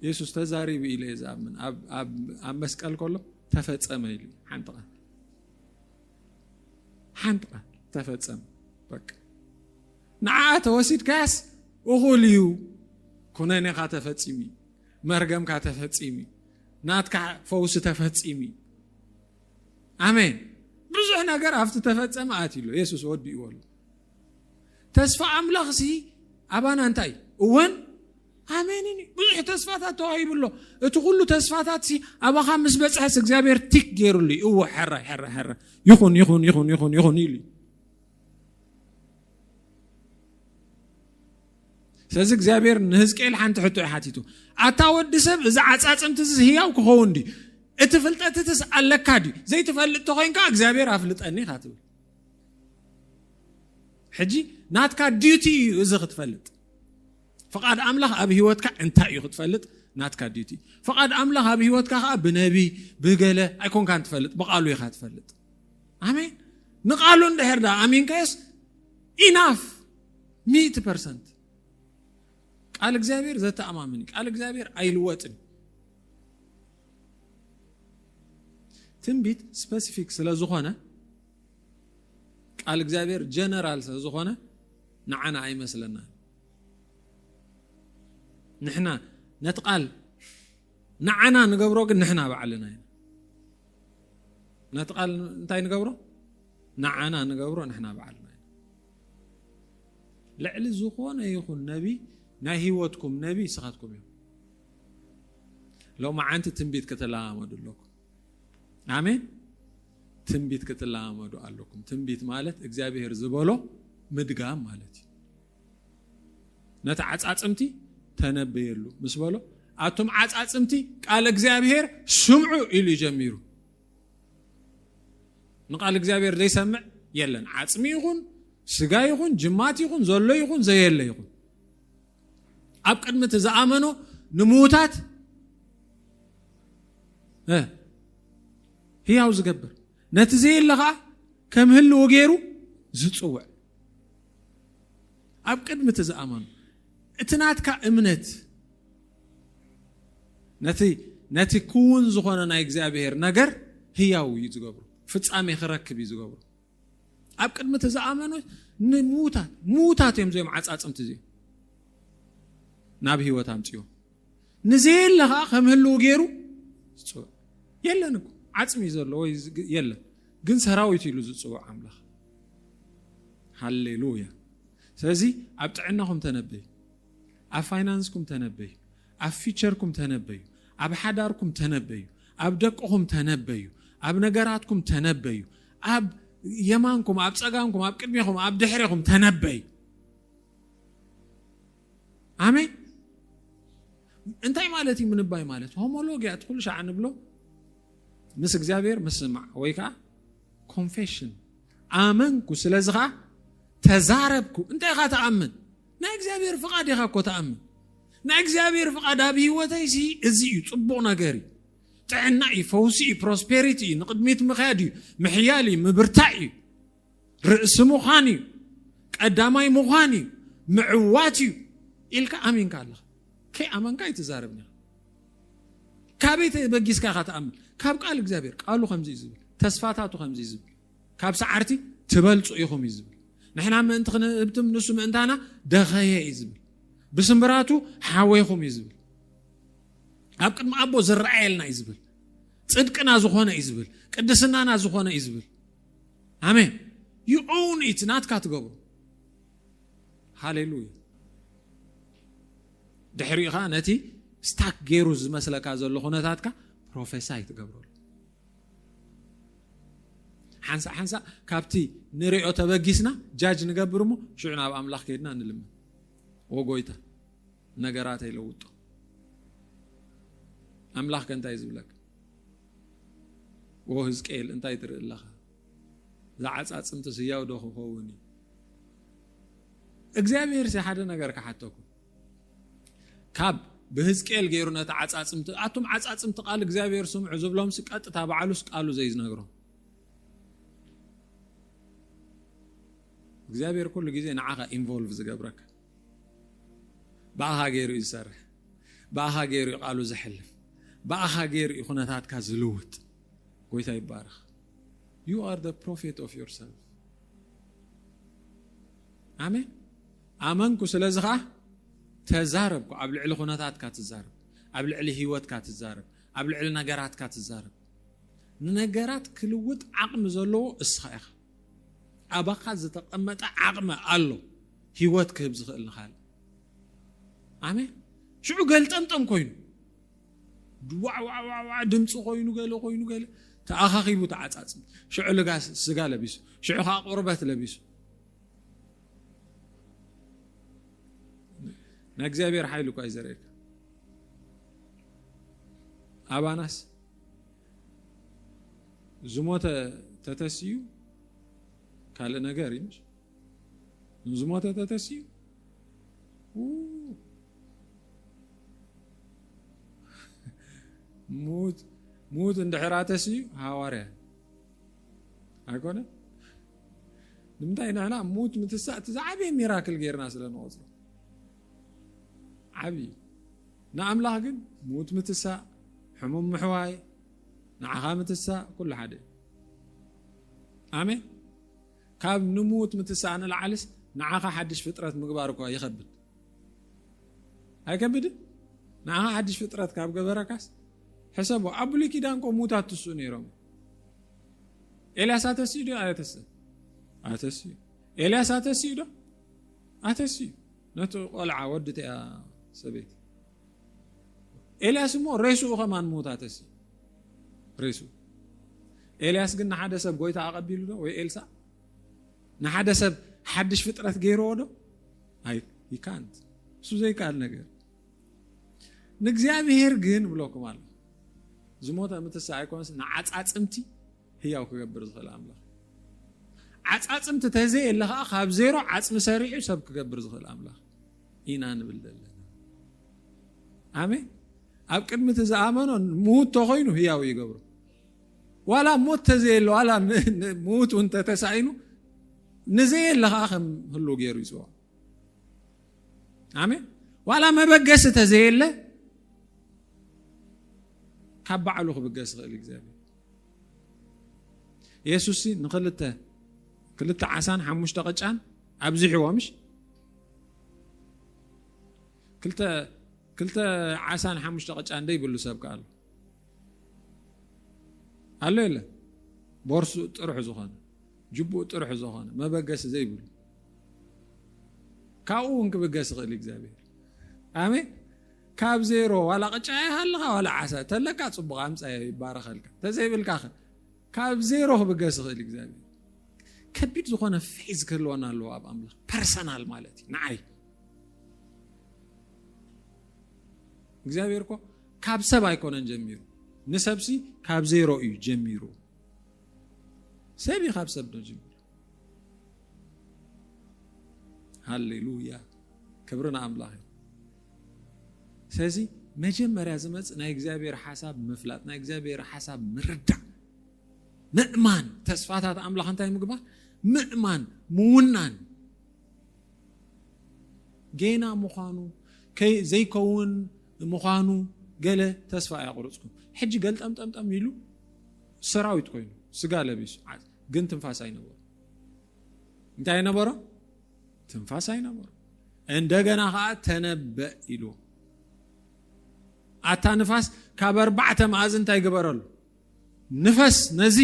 የሱስ ተዛሪቡ ኢለ እየ ዝኣምን ኣብ መስቀል ከሎ ተፈጸመ ኢሉ ሓንቲ ቃል ሓንቲ ቃል ተፈጸመ በቃ ንዓኣ ተወሲድካያስ እኹል እዩ ኩነኔኻ ተፈጺሙ እዩ መርገምካ ተፈጺሙ እዩ ናትካ ፈውሲ ተፈጺሙ እዩ ኣሜን ብዙሕ ነገር ኣብቲ ተፈጸመ ኣትዩ ኣሎ የሱስ ወዲእዎ ኣሎ ተስፋ ኣምላኽሲ ኣባና እንታይ እዩ እወን ኣሜንን እዩ ብዙሕ ተስፋታት ተዋሂቡ ኣሎ እቲ ኩሉ ተስፋታት ሲ ኣባኻ ምስ በፅሐስ እግዚኣብሔር ቲክ ገይሩሉ እዩ እወ ሕረ ሕረ ሕረ ይኹን ይኹን ይኹን ይኹን ይኹን ኢሉ እዩ ስለዚ እግዚኣብሔር ንህዝቅኤል ሓንቲ ሕቶ እዩ ሓቲቱ ኣታ ወዲ ሰብ እዚ ዓፃፅምቲ እዚ ህያው ክኸውን ድዩ እቲ ፍልጠት እትስ ኣለካ ድዩ ዘይትፈልጥ ተኮይንካ እግዚኣብሔር ኣፍልጠኒ ኢካ ትብል ሕጂ ናትካ ዲዩቲ እዩ እዚ ክትፈልጥ ፍቓድ ኣምላኽ ኣብ ህይወትካ እንታይ እዩ ክትፈልጥ ናትካ ዲዩቲ ፍቓድ ኣምላኽ ኣብ ህይወትካ ከዓ ብነቢ ብገለ ኣይኮንካን ትፈልጥ ብቓሉ ኢኻ ትፈልጥ ኣሜን ንቓሉ እንድሕር ዳ ኣሚንካዮስ ኢናፍ ሚእቲ ፐርሰንት ቃል እግዚኣብሔር ዘተኣማምን ቃል እግዚኣብሔር ኣይልወጥን ትንቢት ስፐሲፊክ ስለ ዝኾነ ቃል እግዚኣብሔር ጀነራል ስለዝኾነ ንዓና ኣይመስለና ንሕና ነቲ ቃል ንዓና ንገብሮ ግን ንሕና ባዕልና ኢና ነቲ ቃል እንታይ ንገብሮ ንዓና ንገብሮ ንሕና ባዕልና ኢና ልዕሊ ዝኾነ ይኹን ነቢ ናይ ህይወትኩም ነቢ ንስኻትኩም እዮም ሎማዓንቲ ትንቢት ከተለማመዱ ኣለኩም ኣሜን። ትንቢት ክትለማመዱ ኣለኩም። ትንቢት ማለት እግዚኣብሔር ዝበሎ ምድጋም ማለት እዩ። ነቲ ዓፃፅምቲ ተነበየሉ ምስ በሎ ኣቱም ዓፃፅምቲ ቃል እግዚኣብሔር ስምዑ ኢሉ ጀሚሩ። ንቃል እግዚኣብሔር ዘይሰምዕ የለን። ዓፅሚ ይኹን ስጋ ይኹን ጅማት ይኹን ዘሎ ይኹን ዘየለ ይኹን ኣብ ቅድሚ እቲ ዝኣመኑ ንምዉታት ህያው ዝገብር ነቲ ዘየለ ከዓ ከም ህልዎ ገይሩ ዝፅውዕ ኣብ ቅድሚ እቲ ዝኣመኑ እቲ ናትካ እምነት ነቲ ነቲ ክውን ዝኾነ ናይ እግዚኣብሔር ነገር ህያው እዩ ዝገብሩ ፍፃሜ ክረክብ እዩ ዝገብሩ ኣብ ቅድሚ እቲ ዝኣመኑ ንምዉታት ምዉታት እዮም እዚኦም ዓፃፅምቲ እዚኦም ናብ ህይወት ኣምፅዮ ንዘየለ ከዓ ከም ህልው ገይሩ ዝፅውዕ የለን እኮ ዓፅሚ እዩ ዘሎ ወይ የለን ግን ሰራዊት ኢሉ ዝፅውዕ ኣምላኽ ሃሌሉያ ስለዚ ኣብ ጥዕናኹም ተነበዩ ኣብ ፋይናንስኩም ተነበዩ ኣብ ፊቸርኩም ተነበዩ፣ ኣብ ሓዳርኩም ተነበዩ፣ ኣብ ደቅኹም ተነበዩ፣ ኣብ ነገራትኩም ተነበዩ፣ ኣብ የማንኩም፣ ኣብ ጸጋምኩም፣ ኣብ ቅድሜኹም፣ ኣብ ድሕሬኹም ተነበዩ። ኣሜን። እንታይ ማለት እዩ ምንባይ ማለት? ሆሞሎጊያ እቲ ኩሉ ሻዕ ንብሎ ምስ እግዚኣብሔር ምስማዕ ወይ ከዓ ኮንፌሽን ኣመንኩ ስለዚ ከዓ ተዛረብኩ እንታይ ኢኻ ተኣምን ናይ እግዚኣብሔር ፍቃድ ኢካ እኮ ትኣምን ናይ እግዚኣብሔር ፍቃድ ኣብ ሂወተይ ሲ እዚ እዩ ጽቡቅ ነገር እዩ ጥዕና እዩ ፈውሲ እዩ ፕሮስፔሪቲ እዩ ንቅድሚት ምክያድ እዩ ምሕያል እዩ ምብርታዕ እዩ ርእሲ ምዃን እዩ ቀዳማይ ምዃን እዩ ምዕዋት እዩ ኢልካ ኣሚንካ ኣለካ ከይ ኣመንካ ኣይትዛረብኒ ካበይ ተበጊስካ ኢካ ትኣምን ካብ ቃል እግዚኣብሔር ቃሉ ከምዚ እዩ ዝብል ተስፋታቱ ከምዚ እዩ ዝብል ካብ ሰዓርቲ ትበልጹ ኢኹም እዩ ዝብል ንሕና ምእንቲ ክንህብትም ንሱ ምእንታና ደኸየ እዩ ዝብል ብስምብራቱ ሓወይኹም እዩ ዝብል ኣብ ቅድሚ ኣቦ ዝረኣየልና እዩ ዝብል ፅድቅና ዝኾነ እዩ ዝብል ቅድስናና ዝኾነ እዩ ዝብል ኣሜን ዩ ኦውን ኢት ናትካ ትገብሩ ሃሌሉያ ድሕሪኡ ከዓ ነቲ ስታክ ገይሩ ዝመስለካ ዘሎ ኩነታትካ ፕሮፌሳይ ትገብረሉ ሓንሳእ ሓንሳእ ካብቲ ንሪኦ ተበጊስና ጃጅ ንገብር እሞ ሽዑ ናብ ኣምላኽ ከይድና ንልምን ወጎይታ ነገራት ኣይለውጦ ኣምላኽ ከ እንታይ ዝብለካ ወ ህዝቅኤል እንታይ ትርኢ ኣለኻ ዝዓፃፅምቲ ስያው ዶ ክኸውን እዩ እግዚኣብሔር ሲ ሓደ ነገር ክሓተኩም ካብ ብህዝቅኤል ገይሩ ነቲ ዓጻጽምቲ ኣቱም ዓጻጽምቲ ቃል እግዚኣብሔር ስምዑ ዝብሎምሲ ቀጥታ ባዕሉስ ቃሉ ዘይዝነግሮም እግዚኣብሔር ኩሉ ግዜ ንዓኻ ኢንቮልቭ ዝገብረካ ብኣኻ ገይሩ እዩ ዝሰርሕ ብኣኻ ገይሩ እዩ ቃሉ ዝሕልፍ ብኣኻ ገይሩ እዩ ኩነታትካ ዝልውጥ ጎይታ ይባረኽ ዩ ኣር ፕሮፌት ኦፍ ዮርሰልፍ ኣሜን ኣመንኩ ስለዚ ከኣ ተዛረብኩ ኣብ ልዕሊ ኩነታትካ ትዛረብ ኣብ ልዕሊ ሂወትካ ትዛረብ ኣብ ልዕሊ ነገራትካ ትዛረብ ንነገራት ክልውጥ ዓቕሚ ዘለዎ እስኻ ኢኻ ኣባኻ ዝተቐመጠ ዓቕሚ ኣሎ ሂወት ክህብ ዝኽእል ንኻልእ ኣሜን ሽዑ ገልጠምጠም ኮይኑ ዋዕዋዕዋዕዋ ድምፂ ኮይኑ ገለ ኮይኑ ገለ ተኣኻኺቡ ተዓፃፅም ሽዑ ልጋ ስጋ ለቢሱ ሽዑ ከዓ ቁርበት ለቢሱ ናይ እግዚኣብሔር ሓይሊ እኳ እዩ ዘርእየካ ኣባናስ ዝሞተ ተተስዩ ካልእ ነገር እዩ ንዝሞተ ተተስዩ ሙት እንድሕራ ተስዩ ሃዋርያ ኣይኮነ ንምንታይ ንሕና ሙት ምትሳእ እቲ ዝዓበየ ሚራክል ጌርና ስለ ንቆፅሮ ዓብዪ እዩ ንኣምላኽ ግን ሙት ምትሳእ ሕሙም ምሕዋይ ንዓኻ ምትሳእ ኩሉ ሓደ እዩ ኣሜን ካብ ንሙት ምትሳእ ንልዓልስ ንዓኻ ሓድሽ ፍጥረት ምግባር እኳ ይኸብድ ኣይከብድን ንዓኻ ሓድሽ ፍጥረት ካብ ገበረካስ ሕሰቦ ኣብ ብሉይ ኪዳን ኮ ሙታት ትስኡ ነይሮም እዩ ኤልያስ ኣተስዩ ዶ ኣተስ ኣተስዩ ኤልያስ ኣተስዩ ዶ ኣተስዩ ነቲ ቆልዓ ወዲ እቲያ ሰበይቲ ኤልያስ እሞ ሬስኡ ከማን ምውት ኣተስዩ ሬስኡ ኤልያስ ግን ንሓደ ሰብ ጎይታ ኣቐቢሉ ዶ ወይ ኤልሳ ንሓደ ሰብ ሓድሽ ፍጥረት ገይርዎ ዶ ይካንት እሱ ዘይከኣል ነገር ንእግዚኣብሄር ግን እብለኩም ኣሎ ዝሞተ ኣብ ምትሳእ ኣይኮነስ ንዓፃፅምቲ ህያው ክገብር ዝኽእል ኣምላኽ ዓፃፅምቲ ተዘየለ ከዓ ካብ ዜሮ ዓፅሚ ሰሪዑ ሰብ ክገብር ዝኽእል ኣምላኽ ኢና ንብል ዘለና ኣሜን ኣብ ቅድሚ እቲ ዝኣመኖ ምዉት ተኮይኑ ህያው ይገብሮ ዋላ ሞት ተዘየለ ዋላ ምዉት እውን ተተሳኢኑ ንዘየለ ከዓ ከም ህሉ ገይሩ ይፅዋ ኣሜን ዋላ መበገሲ ተዘየለ ካብ ባዕሉ ክብገስ ይኽእል እግዚኣብሔር የሱስ ንክልተ ክልተ ዓሳን ሓሙሽተ ቅጫን ኣብዚሕዎ ምሽ ክልተ ክልተ ዓሳን ሓሙሽተ ቅጫ እንደ ይብሉ ሰብ ከኣሉ ኣሎ የለ ቦርሱ ጥርሑ ዝኾነ ጅቡኡ ጥርሑ ዝኾነ መበገሲ ዘይብሉ ካብኡ እውን ክብገስ ይኽእል እግዚኣብሔር ኣሜን ካብ ዜሮ ዋላ ቅጫ ይሃልኻ ዋላ ዓሳ ተለካ ፅቡቕ ኣምፃዮ ይባረኸልካ ተዘይብልካ ኸ ካብ ዜሮ ክብገስ ይኽእል እግዚኣብሔር ከቢድ ዝኾነ ፌዝ ክህልወና ኣለዎ ኣብ ኣምላኽ ፐርሰናል ማለት እዩ ንዓይ እግዚኣብሔር እኮ ካብ ሰብ ኣይኮነን ጀሚሩ ንሰብሲ ካብ ዜሮ እዩ ጀሚሩ ሰብ እዩ ካብ ሰብ ዶ ጀሚሩ ሃሌሉያ ክብሪ ንኣምላኽ እዩ ስለዚ መጀመርያ ዝመፅእ ናይ እግዚኣብሔር ሓሳብ ምፍላጥ ናይ እግዚኣብሔር ሓሳብ ምርዳእ ምእማን ተስፋታት ኣምላኽ እንታይ ምግባር ምእማን ምውናን ጌና ምዃኑ ዘይከውን ምዃኑ ገለ ተስፋ ኣያቑርፅኩም ሕጂ ገልጠምጠምጠም ኢሉ ሰራዊት ኮይኑ ስጋ ለቢሱ ግን ትንፋስ ኣይነበሮ እንታይ ነበሮ ትንፋስ ኣይነበሮ እንደገና ከዓ ተነበእ ኢሉ ኣታ ንፋስ ካብ ኣርባዕተ መኣዝ እንታይ ግበረሉ ንፈስ ነዚ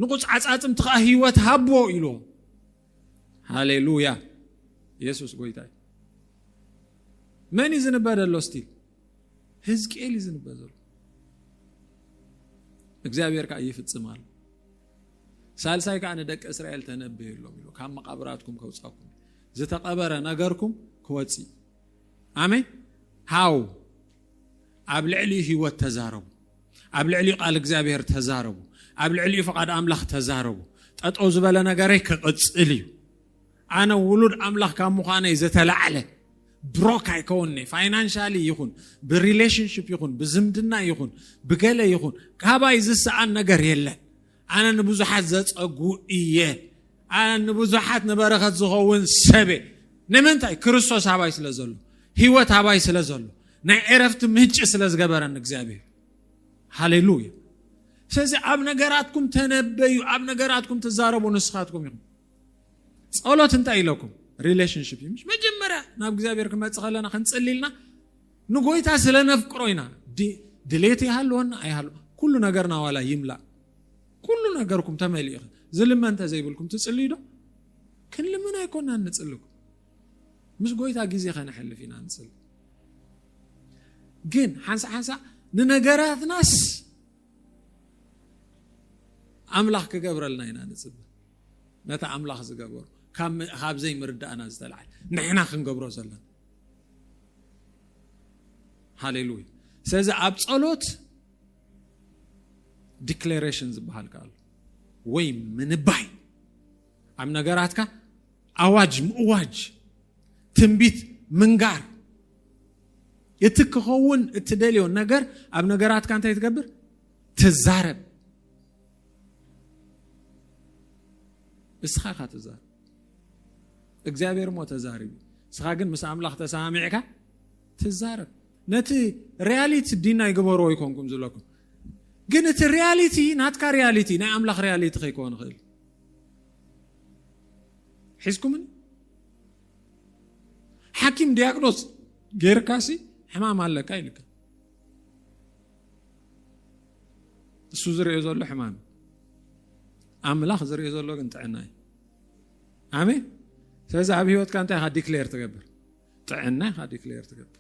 ንቑፅ ዓፃፅምቲ ከዓ ህይወት ሃቦ ኢሉ ሃሌሉያ የሱስ ጎይታ እዩ መን እዩ ዝንበ ዘሎ ስቲ ህዝቅኤል እዩ ዝንበ ዘሎ እግዚኣብሔር ከዓ ይፍፅም ኣሎ ሳልሳይ ከዓ ንደቂ እስራኤል ተነብየሎም ኢሉ ካብ መቃብራትኩም ከውፃኩም ዝተቀበረ ነገርኩም ክወፅእ ኣሜን ሃው ኣብ ልዕሊኡ ህይወት ተዛረቡ ኣብ ልዕሊኡ ቃል እግዚኣብሔር ተዛረቡ ኣብ ልዕሊኡ ፍቓድ ኣምላኽ ተዛረቡ ጠጠው ዝበለ ነገረይ ክቕፅል እዩ ኣነ ውሉድ ኣምላኽ ካብ ምዃነይ ዘተላዕለ ብሮክ ኣይከውንኔ ፋይናንሻሊ ይኹን ብሪሌሽንሽፕ ይኹን ብዝምድና ይኹን ብገለ ይኹን ካባይ ዝሰኣን ነገር የለን ኣነ ንብዙሓት ዘፀጉ እየ ኣነ ንብዙሓት ንበረኸት ዝኸውን ሰበ ንምንታይ ክርስቶስ ኣባይ ስለ ዘሎ ህይወት ኣባይ ስለ ዘሎ ናይ ዕረፍቲ ምንጭ ስለ ዝገበረኒ እግዚኣብሔር ሃሌሉያ ስለዚ ኣብ ነገራትኩም ተነበዩ ኣብ ነገራትኩም ትዛረቡ ንስኻትኩም ኢኹም ጸሎት እንታይ ኢለኩም ሪሌሽንሽፕ እዩ ምሽ መጀመርያ ናብ እግዚኣብሔር ክመፅእ ከለና ክንፅሊ ኢልና ንጎይታ ስለ ነፍቅሮ ኢና ድሌት ይሃልወና ኣይሃሉ ኩሉ ነገርና ዋላ ይምላእ ኩሉ ነገርኩም ተመሊኡ ኢኹ ዝልመ እንተዘይብልኩም ትፅልዩ ዶ ክንልምን ኣይኮና ንፅልኩም ምስ ጎይታ ግዜ ከነሕልፍ ኢና ንፅሊ ግን ሓንሳ ሓንሳ ንነገራትናስ ኣምላኽ ክገብረልና ኢና ንፅበ ነቲ ኣምላኽ ዝገበሮ ካብ ዘይምርዳእና ዝተላዓለ ንሕና ክንገብሮ ዘለና ሃሌሉያ ስለዚ ኣብ ጸሎት ዲክሌሬሽን ዝበሃል ከኣሉ ወይ ምንባይ ኣብ ነገራትካ ኣዋጅ ምእዋጅ ትንቢት ምንጋር እቲ ክኸውን እትደልዮ ነገር ኣብ ነገራትካ እንታይ ትገብር ትዛረብ እስኻ ኢኻ ተዛርብ እግዚኣብሔር ሞ ተዛርብ እስኻ ግን ምስ ኣምላኽ ተሰማሚዕካ ትዛረብ ነቲ ሪያሊቲ ዲና ይግበርዎ ይኮንኩም ዝለኩም ግን እቲ ሪያሊቲ ናትካ ሪያሊቲ ናይ ኣምላኽ ሪያሊቲ ከይከውን ይኽእል ሒዝኩምን ሓኪም ዲያግኖስ ጌርካሲ ሕማም ኣለካ ይልካ እሱ ዝርኦ ዘሎ ሕማም ኣምላኽ ዝርኦ ዘሎ ግን ጥዕና እዩ ኣሜን ስለዚ ኣብ ሂወትካ እንታይ ኢኻ ዲክሌር ትገብር ጥዕና ኢኻ ዲክሌር ትገብር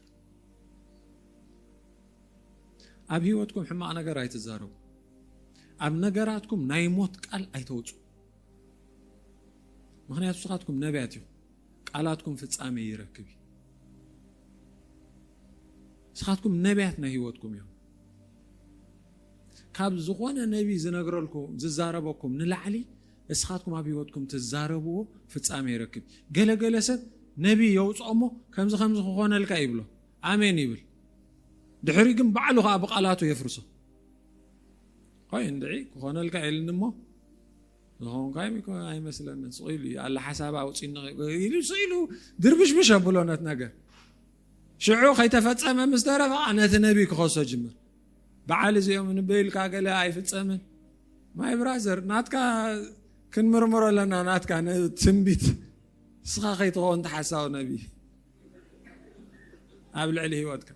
ኣብ ሂወትኩም ሕማቕ ነገር ኣይትዛረቡ ኣብ ነገራትኩም ናይ ሞት ቃል ኣይተውፁ ምክንያቱ ስኻትኩም ነቢያት እዩ ቃላትኩም ፍፃሜ ይረክብ እዩ ስኻትኩም ነቢያት ናይ ሂወትኩም እዮም ካብ ዝኾነ ነቢ ዝነግረልኩም ዝዛረበኩም ንላዕሊ እስኻትኩም ኣብ ህይወትኩም ትዛረብዎ ፍጻሜ ይረክብ ገለ ገለ ሰብ ነቢ የውፅኦ እሞ ከምዚ ከምዚ ክኾነልካ ይብሎ ኣሜን ይብል ድሕሪ ግን ባዕሉ ከዓ ብቃላቱ የፍርሶ ቆይ እንድዒ ክኾነልካ የልኒ እሞ ዝኾንካይ ኣይመስለኒ ስኢሉ እዩ ኣላ ሓሳብ ኣውፂኒ ኢሉ ስኢሉ ድርብሽብሽ ኣብሎ ነት ነገር ሽዑ ከይተፈጸመ ምስ ተረፈ ኸኣ ነቲ ነቢ ክኸሶ ጅምር በዓል እዚኦም ንበይ ኢልካ ገለ ኣይፍጸምን ማይ ብራዘር ናትካ ክንምርምሮ ኣለና ናትካ ንትንቢት ንስኻ ከይትኸውን ተሓሳዊ ነቢ ኣብ ልዕሊ ህይወትካ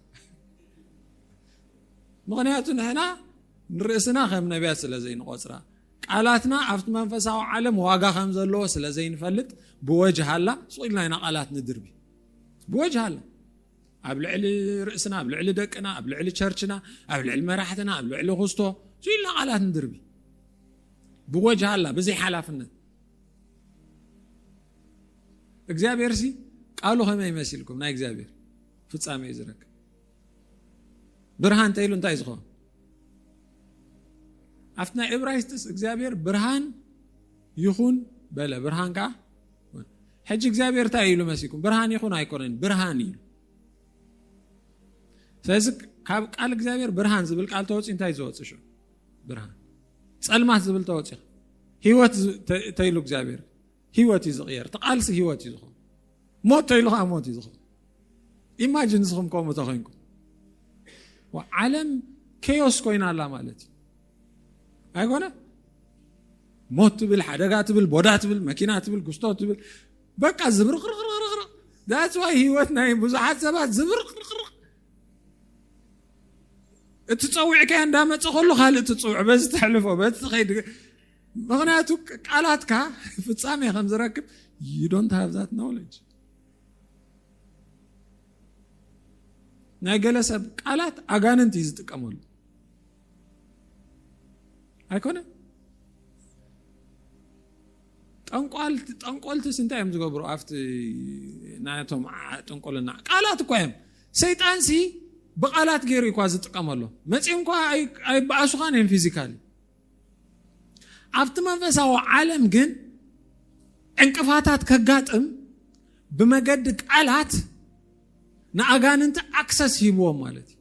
ምክንያቱ ንሕና ንርእስና ከም ነቢያት ስለ ዘይንቆፅራ ቃላትና ኣብቲ መንፈሳዊ ዓለም ዋጋ ከም ዘለዎ ስለ ዘይንፈልጥ ብወጅሃላ ስቁኢልና ኢና ቃላት ንድርቢ ብወጅሃ ኣላ ኣብ ልዕሊ ርእስና ኣብ ልዕሊ ደቅና ኣብ ልዕሊ ቸርችና ኣብ ልዕሊ መራሕትና ኣብ ልዕሊ ክስቶ ስኢልና ቃላት ንድርቢ ብወጅሃ ኣላ ብዘይ ሓላፍነት እግዚኣብሔር ሲ ቃሉ ከመይ መሲልኩም ናይ እግዚኣብሔር ፍፃመ እዩ ዝረክብ ብርሃን እንተኢሉ እንታይ ዝኸውን ኣብቲ ናይ ዕብራይስጥስ እግዚኣብሔር ብርሃን ይኹን በለ ብርሃን ከዓ ሕጂ እግዚኣብሔር እንታይ ኢሉ መሲኩም ብርሃን ይኹን ኣይኮነን ብርሃን ኢሉ ስለዚ ካብ ቃል እግዚኣብሔር ብርሃን ዝብል ቃል ተወፂ እንታይ ዝወፅ ሽ ብርሃን ፀልማት ዝብል ተወፂ ሂወት ተይሉ እግዚኣብሔር ሂወት እዩ ዝቕየር ተቃልሲ ሂወት እዩ ዝኸውን ሞት ተይሉ ከዓ ሞት እዩ ዝኸውን ኢማጂን ንስኹም ከምኡ ተኮይንኩም ዓለም ከዮስ ኮይና ኣላ ማለት እዩ ኣይኮነ ሞት ትብል ሓደጋ ትብል ቦዳ ትብል መኪና ትብል ጉስቶ ትብል በቃ ዝብርቅርቅርቅርቅ ዳፅዋይ ህይወት ናይ ብዙሓት ሰባት ዝብርቅርቅርቅ እቲ ፀዊዕካ እንዳመፀ ከሎ ካልእ ትፅውዕ በዚ ተሕልፎ በዚ ትኸይድ ምክንያቱ ቃላትካ ፍፃሜ ከም ዝረክብ ዩዶንት ሃብዛት ኖሌጅ ናይ ገለ ሰብ ቃላት ኣጋንንቲ እዩ ዝጥቀመሉ ኣይኮነን ጠንቋልቲ ጠንቆልትስ እንታይ እዮም ዝገብሩ ኣብቲ ናቶም ጥንቆልና ቃላት እኳ እዮም ሰይጣን ሲ ብቃላት ገይሩ እኳ ዝጥቀመሉ መፂኦም እኳ ኣይበኣሱኻን እዮም ፊዚካሊ ኣብቲ መንፈሳዊ ዓለም ግን ዕንቅፋታት ከጋጥም ብመገዲ ቃላት ንኣጋንንቲ ኣክሰስ ሂብዎም ማለት እዩ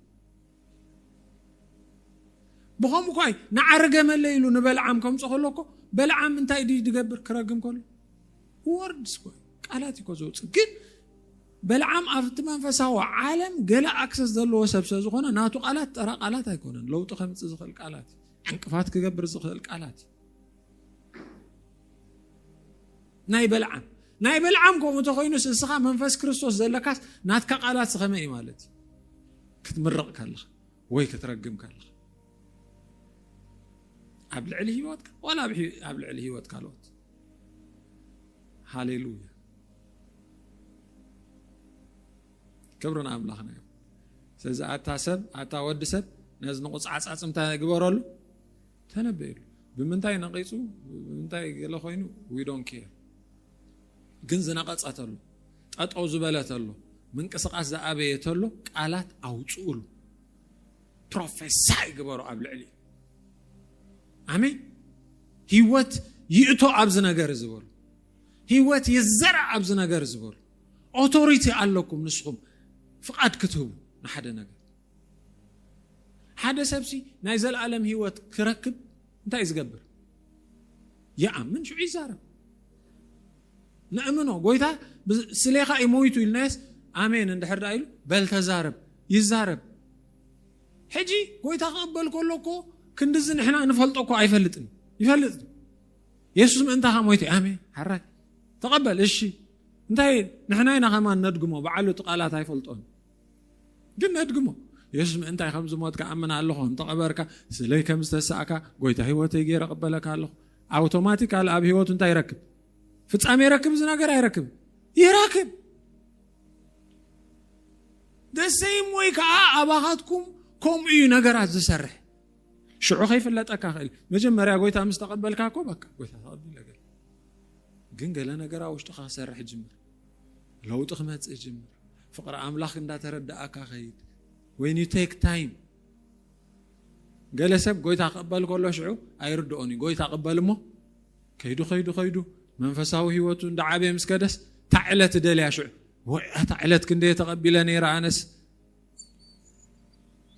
ብኸምኡ እኳ እዩ ንዓረገመለ ኢሉ ንበልዓም ከምፆ ከሎ እኮ በልዓም እንታይ ድዩ ዝገብር ክረግም ከሎ ወርድስ እኮ ቃላት እኮ ዘውፅእ ግን በልዓም ኣብቲ መንፈሳዊ ዓለም ገለ ኣክሰስ ዘለዎ ሰብ ስለ ዝኾነ ናቱ ቃላት ጠራ ቃላት ኣይኮነን ለውጢ ከምፅእ ዝኽእል ቃላት እዩ ዕንቅፋት ክገብር ዝኽእል ቃላት እዩ ናይ በልዓም ናይ በልዓም ከምኡ እንተኮይኑስ እስኻ መንፈስ ክርስቶስ ዘለካስ ናትካ ቃላት ስኸመ እዩ ማለት እዩ ክትምረቕ ከለኻ ወይ ክትረግም ከለኻ ኣብ ልዕሊ ሂወትካ ዋላ ኣብ ልዕሊ ሂወት ካልኦት ሃሌሉያ ክብሪ ንኣምላኽና እዩ ስለዚ ኣታ ሰብ ኣታ ወዲ ሰብ ነዚ ንቑፃዕፃፅ እንታይ ግበረሉ ተነበየሉ ብምንታይ ነቂጹ ብምንታይ ገለ ኮይኑ we don't care ግን ዝነቀጸ ተሎ ጠጠው ዝበለ ተሎ ምንቅስቃስ ዝኣበየ ተሎ ቃላት ኣውጽኡሉ ፕሮፌሳይ ግበሩ ኣብ ልዕሊ ኣሜን ህይወት ይእቶ ኣብዚ ነገር እዚ በሉ ህይወት ይዘራእ ኣብዚ ነገር እዚ በሉ ኦቶሪቲ ኣለኩም ንስኹም ፍቓድ ክትህቡ ንሓደ ነገር ሓደ ሰብሲ ናይ ዘለኣለም ህይወት ክረክብ እንታይ እዩ ዝገብር? ይኣምን ሽዑ ይዛረብ። ነእምኖ ጎይታ ስሌኻ እዩ ሞይቱ ኢልናየስ ኣሜን እንድሕር ዳ ኢሉ በል ተዛረብ ይዛረብ ሕጂ ጎይታ ክቕበል ከሎ እኮ ክንዲዚ ንሕና ንፈልጦ እኮ ኣይፈልጥን ይፈልጥ የሱስ ምእንታኻ ሞይቱ ኣሜን ሓራይ ተቐበል እሺ እንታይ ንሕና ኢና ከማን ነድግሞ በዓሉ እቲ ቃላት ኣይፈልጦን ግን ነድግሞ የሱስ ምእንታይ ከም ዝሞትካ ኣምን ኣለኹ ከም ተቐበርካ ስለይ ከም ዝተሳእካ ጎይታ ህይወተይ ገይረ ቅበለካ ኣለኹ ኣውቶማቲካል ኣብ ህይወቱ እንታይ ይረክብ ፍጻሜ ይረክብ እዚ ነገር ኣይረክብ ይረክብ ደሰይም ወይ ከዓ ኣባኻትኩም ከምኡ እዩ ነገራት ዝሰርሕ ሽዑ ከይፍለጠካ ክእል መጀመርያ ጎይታ ምስ ተቐበልካ እኮ በቃ ጎይታ ተቐቢለ ግን ገለ ነገራ ውሽጥካ ክሰርሕ ጅምር ለውጢ ክመጽእ ይጅምር። ፍቕሪ ኣምላኽ እንዳተረዳእካ ከይድ ወይን ዩ ቴክ ታይም። ገለ ሰብ ጎይታ ክቕበል ከሎ ሽዑ ኣይርድኦን እዩ። ጎይታ ቅበል እሞ ከይዱ ከይዱ ከይዱ መንፈሳዊ ህይወቱ እንዳዓበየ ምስ ከደስ እታ ዕለት ደልያ ሽዑ ወይ እታ ዕለት ክንደየ ተቐቢለ ነይረ ኣነስ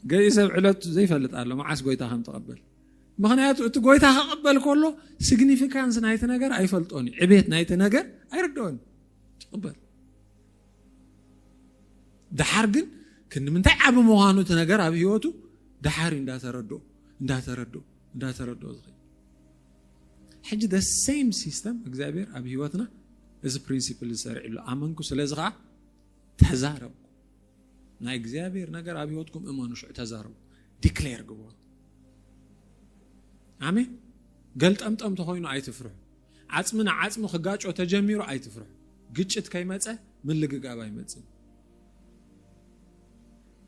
ገይ ሰብ ዕለት ዘይፈልጥ ኣሎ መዓስ ጎይታ ከም ተቐበል ምክንያቱ እቲ ጎይታ ክቕበል ከሎ ሲግኒፊካንስ ናይቲ ነገር ኣይፈልጦን እዩ ዕቤት ናይቲ ነገር ኣይርድኦን ትቕበል ድሓር ግን ክንምንታይ ዓብ ምዃኑ እቲ ነገር ኣብ ህይወቱ ድሓር እዩ እንዳተረድኦ እንዳተረድኦ እንዳተረድኦ ዝኽእል ሕጂ ደ ሴም ሲስተም እግዚኣብሔር ኣብ ህይወትና እዚ ፕሪንሲፕል ዝሰርዕሉ ኣመንኩ ስለዚ ከዓ ተዛረቡ ናይ እግዚኣብሔር ነገር ኣብ ህይወትኩም እመኑ ሽዑ ተዛረቡ ዲክሌር ግበሩ ኣሜን ገልጠምጠም ተኮይኑ ኣይትፍርሑ ዓፅሚ ንዓፅሚ ክጋጮ ተጀሚሩ ኣይትፍርሑ ግጭት ከይመፀ ምልግጋብ ኣይመፅን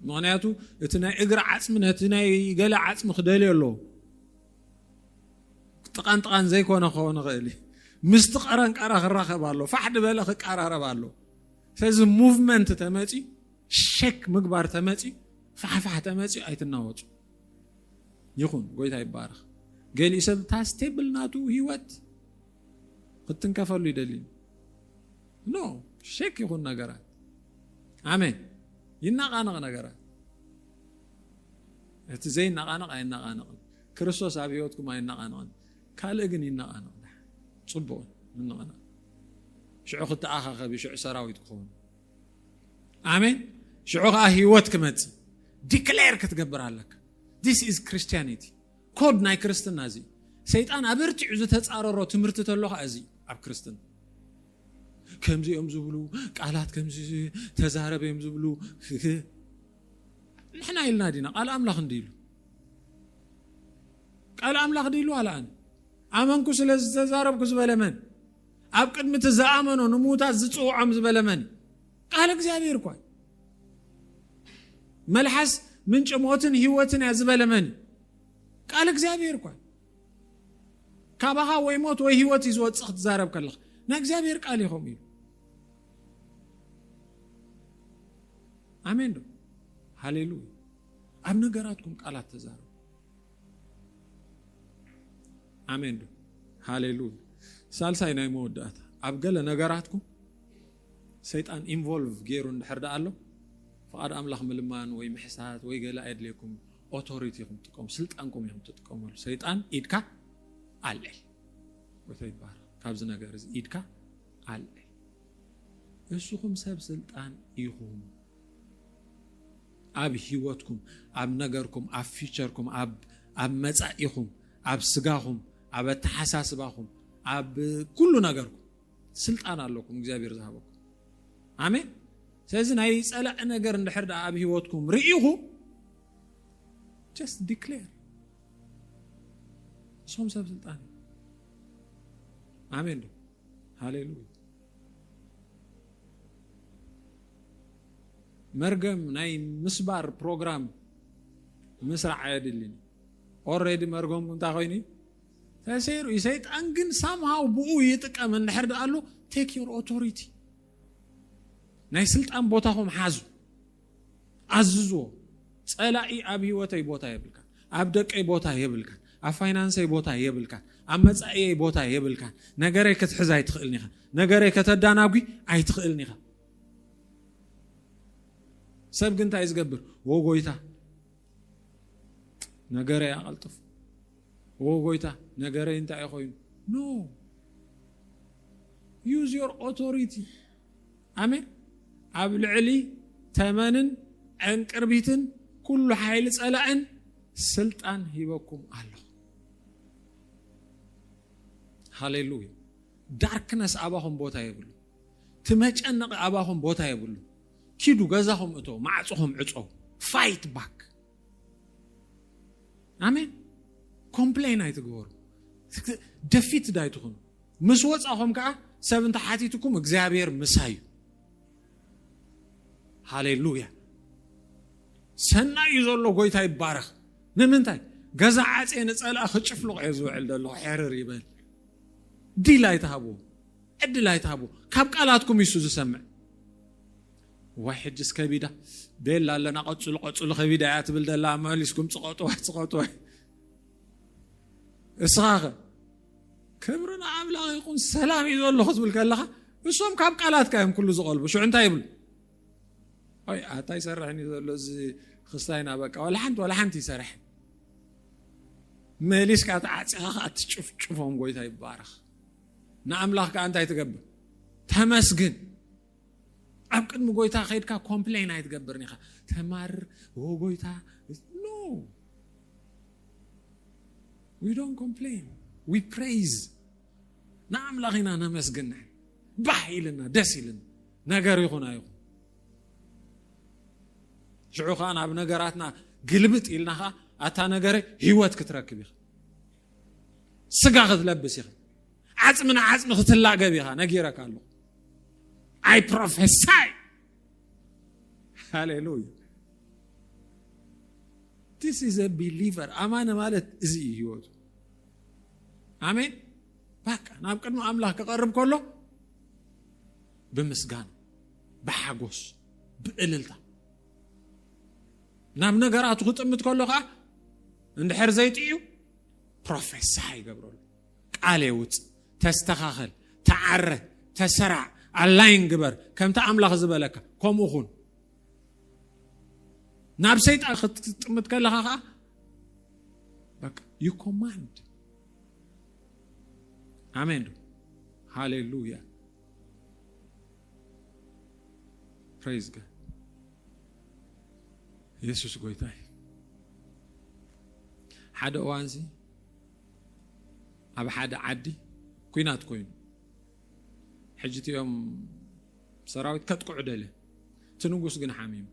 ምክንያቱ እቲ ናይ እግሪ ዓፅሚ ነቲ ናይ ገለ ዓፅሚ ክደልዮ ኣለዎ ጥቃን ጥቃን ዘይኮነ ክኸውን ይኽእል እዩ ምስቲ ቀረንቀራ ክራኸብ ኣሎ ፋሕ ድበለ ክቀራረብ ኣሎ ስለዚ ሙቭመንት ተመፅዩ ሸክ ምግባር ተመፅዩ ፋሕፋሕ ተመፅዩ ኣይትናወፁ ይኹን ጎይታ ይባረኽ ገሊኡ ሰብ እታ ስቴብል ናቱ ሂወት ክትንከፈሉ ይደሊ ኖ ሸክ ይኹን ነገራት ኣሜን ይናቃነቕ ነገራት እቲ ዘይናቃነቕ ኣይናቃነቕን ክርስቶስ ኣብ ሂወትኩም ኣይናቃነቕን ካልእ ግን ይነቓነቕ ደሓን ጽቡቕ እዩ ምንቕናቕ ሽዑ ክተኣኻኸብ እዩ ሽዑ ሰራዊት ክኸውን ኣሜን ሽዑ ከዓ ህይወት ክመፅእ ዲክሌር ክትገብር ኣለካ ዲስ ኢዝ ክርስቲያኒቲ ኮድ ናይ ክርስትና እዚ ሰይጣን ኣበርቲዑ ዝተፃረሮ ትምህርቲ ተሎ ከዓ እዚ ኣብ ክርስትና ከምዚ እዮም ዝብሉ ቃላት ከምዚ ተዛረብ እዮም ዝብሉ ንሕና ኢልና ዲና ቃል ኣምላኽ እንዲ ኢሉ ቃል ኣምላኽ ድዩ ኢሉ ኣልኣን። ኣመንኩ ስለ ዝተዛረብኩ ዝበለ መን? ኣብ ቅድሚ እቲ ዝኣመኖ ንምዉታት ዝጽውዖም ዝበለ መን እዩ? ቃል እግዚኣብሔር እኳ እዩ። መልሓስ ምንጪ ሞትን ህይወትን እያ ዝበለ መን እዩ? ቃል እግዚኣብሔር እኳ እዩ። ካባኻ ወይ ሞት ወይ ህይወት እዩ ዝወፅእ ክትዛረብ ከለኻ ናይ እግዚኣብሔር ቃል እዩ ከምኡ ኢሉ ኣሜን ዶ ሃሌሉያ ኣብ ነገራትኩም ቃላት ተዛረቡ ኣሜን ዶ ሃሌሉያ ሳልሳይ ናይ መወዳእታ ኣብ ገለ ነገራትኩም ሰይጣን ኢንቮልቭ ገይሩ እንድሕር ደኣ ኣሎ ፍቓድ ኣምላኽ ምልማን ወይ ምሕሳት ወይ ገለ ኣየድልየኩም ኦቶሪቲ ኢኹም ትጥቀሙ ስልጣንኩም ኢኹም ትጥቀመሉ ሰይጣን ኢድካ ኣልዕል ወይታ ይባሃል ካብዚ ነገር እዚ ኢድካ ኣልዕል እስኹም ሰብ ስልጣን ኢኹም ኣብ ሂወትኩም ኣብ ነገርኩም ኣብ ፊቸርኩም ኣብ ኣብ መጻኢኹም ኣብ ስጋኹም ኣብ ኣተሓሳስባኹም ኣብ ኩሉ ነገርኩም ስልጣን ኣለኩም እግዚኣብሔር ዝሃበኩም ኣሜን ስለዚ ናይ ጸላእ ነገር እንድሕር ደኣ ኣብ ሂወትኩም ርኢኹ ጀስት ዲክሌር እሶም ሰብ ስልጣን ኣሜን ዶ ሃሌሉያ መርገም ናይ ምስባር ፕሮግራም ምስራዕ ኣየድልን ኦረዲ መርገም እንታይ ኮይኑ ተሰይሩ እዩ ሰይጣን ግን ሳምሃው ብኡ ይጥቀም እንድሕር ደኣሉ ቴክ ዮር ኦቶሪቲ ናይ ስልጣን ቦታኹም ሓዙ ኣዝዝዎ ጸላኢ ኣብ ህይወተይ ቦታ የብልካን ኣብ ደቀይ ቦታ የብልካን ኣብ ፋይናንሰይ ቦታ የብልካን ኣብ መጻኢየይ ቦታ የብልካን ነገረይ ክትሕዝ ኣይትኽእልን ኢኻ ነገረይ ከተዳናጒ ኣይትኽእልን ኢኻ ሰብ ግን እንታይ ዝገብር ወ ጎይታ ነገረይ ኣቐልጥፉ ወ ጎይታ ነገረይ እንታይ እዩ ኮይኑ ኖ ዩዝ ዮር ኦቶሪቲ ኣሜን ኣብ ልዕሊ ተመንን ዕንቅርቢትን ኩሉ ሓይሊ ጸላእን ስልጣን ሂበኩም ኣለኹ ሃሌሉያ ዳርክነስ ኣባኹም ቦታ የብሉ እቲ መጨነቒ ኣባኹም ቦታ የብሉ ኪዱ ገዛኹም እቶ ማዕፅኹም ዕፀው ፋይት ባክ ኣሜን ኮምፕሌን ኣይትግበሩ ደፊት ዳይትኹኑ ምስ ወፃኹም ከዓ ሰብ እንተ ሓቲትኩም እግዚኣብሔር ምሳ እዩ ሃሌሉያ ሰና እዩ ዘሎ ጎይታ ይባረኽ ንምንታይ ገዛ ዓፄ ንፀልኣ ክጭፍልቕ እዮ ዝውዕል ዘሎ ሕርር ይበል ዲል ኣይትሃብዎ ዕድል ኣይትሃብዎ ካብ ቃላትኩም ይሱ ዝሰምዕ ዋይ ሕጅስ ከቢዳ ቤላ ኣለና ቀፅሉ ቀፅሉ ከቢዳ እያ ትብል ደላ መሊስኩም ፅቐጥዋይ ፅቐጥዋይ እስኻ ኸ ክብሪ ንኣምላኽ ይኹን ሰላም እዩ ዘሎ ክትብል ከለኻ እሶም ካብ ቃላትካ እዮም ኩሉ ዝቐልቡ ሽዑ እንታይ ይብሉ ኣይ ኣታ ይሰርሕን እዩ ዘሎ እዚ ክስታይና በቃ ዋላ ሓንቲ ዋላ ሓንቲ ይሰርሕ መሊስካ ተዓፂኻ ከዓ ትጭፍጭፎም ጎይታ ይባረኽ ንኣምላኽ ከዓ እንታይ ትገብር ተመስግን ኣብ ቅድሚ ጎይታ ከድካ ኮምፕሌን ኣይትገብርን ኢኻ ተማርር ኦ ጎይታ ኖ ዊ ዶንት ኮምፕሌን ዊ ፕሬይዝ ንኣምላኽ ኢና ነመስግን ንሕና ባህ ኢልና ደስ ኢልና ነገር ይኹን ኣይኹን ሽዑ ከዓ ናብ ነገራትና ግልብጥ ኢልና ከዓ ኣታ ነገረ ህይወት ክትረክብ ኢኻ ስጋ ክትለብስ ኢኻ ዓጽሚ ንዓጽሚ ክትላገብ ኢኻ ነጊረካ ኣለኹ ኣይ ፕሮፌሳይ ሃሌሉያ ቲስ ኢዝ አ ቢሊቨር ኣማኒ ማለት እዚ እዩ ህይወቱ ኣሜን ባቃ ናብ ቅድሚ ኣምላኽ ክቐርብ ከሎ ብምስጋና ብሓጎስ ብእልልታ ናብ ነገራቱ ክጥምት ከሎ ከዓ እንድሕር ዘይጥዩ ፕሮፌሳ ይገብረሉ ቃሌ ውጽእ ተስተኻኸል ተዓረ ተሰራዕ ኣላይን ግበር ከምቲ ኣምላኽ ዝበለካ ከምኡ ኹን ናብ ሰይጣን ክትጥምት ከለኻ ከዓ በቃ ዩ ኮማንድ ኣሜን ዶ ሃሌሉያ ፕሬዝ ጋድ ኢየሱስ ጎይታ እዩ ሓደ እዋንዚ ኣብ ሓደ ዓዲ ኩናት ኮይኑ ሕጂ እቲኦም ሰራዊት ከጥቅዑ ደለ እቲ ንጉስ ግን ሓሚሙ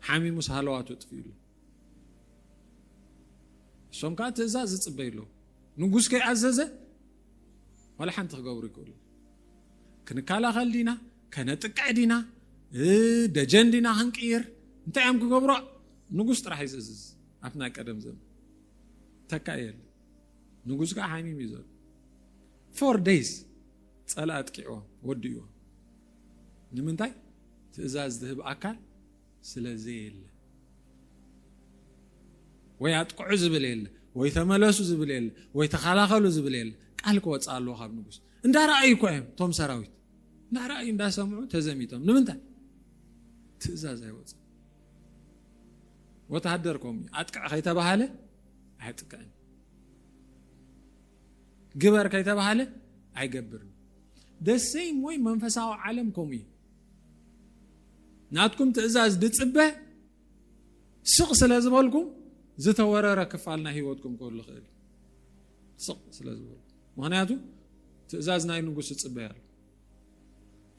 ሓሚሙስ ሃለዋቱ ጥፍኡ ኣሎ እሶም ከዓ ትእዛዝ ዝፅበዩ ኣለዉ ንጉስ ከይኣዘዘ ዋላ ሓንቲ ክገብሩ ይክእሉ ክንከላኸል ዲና ከነጥቅዕ ዲና ደጀን ዲና ክንቅይር እንታይ እዮም ክገብሮ ንጉስ ጥራሕ እዩ ዝእዝዝ ኣብቲ ናይ ቀደም ዘመን ተካእየለ ንጉስ ከዓ ሓሚም እዩ ዘሎ ፎር ደይስ ፀላ ኣጥቂዕዎ ወዲእዎ ንምንታይ ትእዛዝ ዝህብ ኣካል ስለ ዘየለ ወይ ኣጥቅዑ ዝብል የለ ወይ ተመለሱ ዝብል የለ ወይ ተኸላኸሉ ዝብል የለ ቃል ክወፅእ ኣለዎ ካብ ንጉስ እንዳረኣዩ እኳ እዮም እቶም ሰራዊት እንዳረኣዩ እንዳሰምዑ ተዘሚቶም ንምንታይ ትእዛዝ ኣይወፅእ ወተሃደር ከምኡ እዩ ኣጥቅዕ ከይተባሃለ ኣየጥቅዕን ግበር ከይተባሃለ ኣይገብርን ደሰይ ወይ መንፈሳዊ ዓለም ከምኡ እዩ ናትኩም ትእዛዝ ድፅበ ስቕ ስለ ዝበልኩም ዝተወረረ ክፋል ናይ ህይወትኩም ክህሉ ክእል ስቕ ስለ ዝበልኩም ምክንያቱ ትእዛዝ ናይ ንጉስ እፅበያ ኣሎ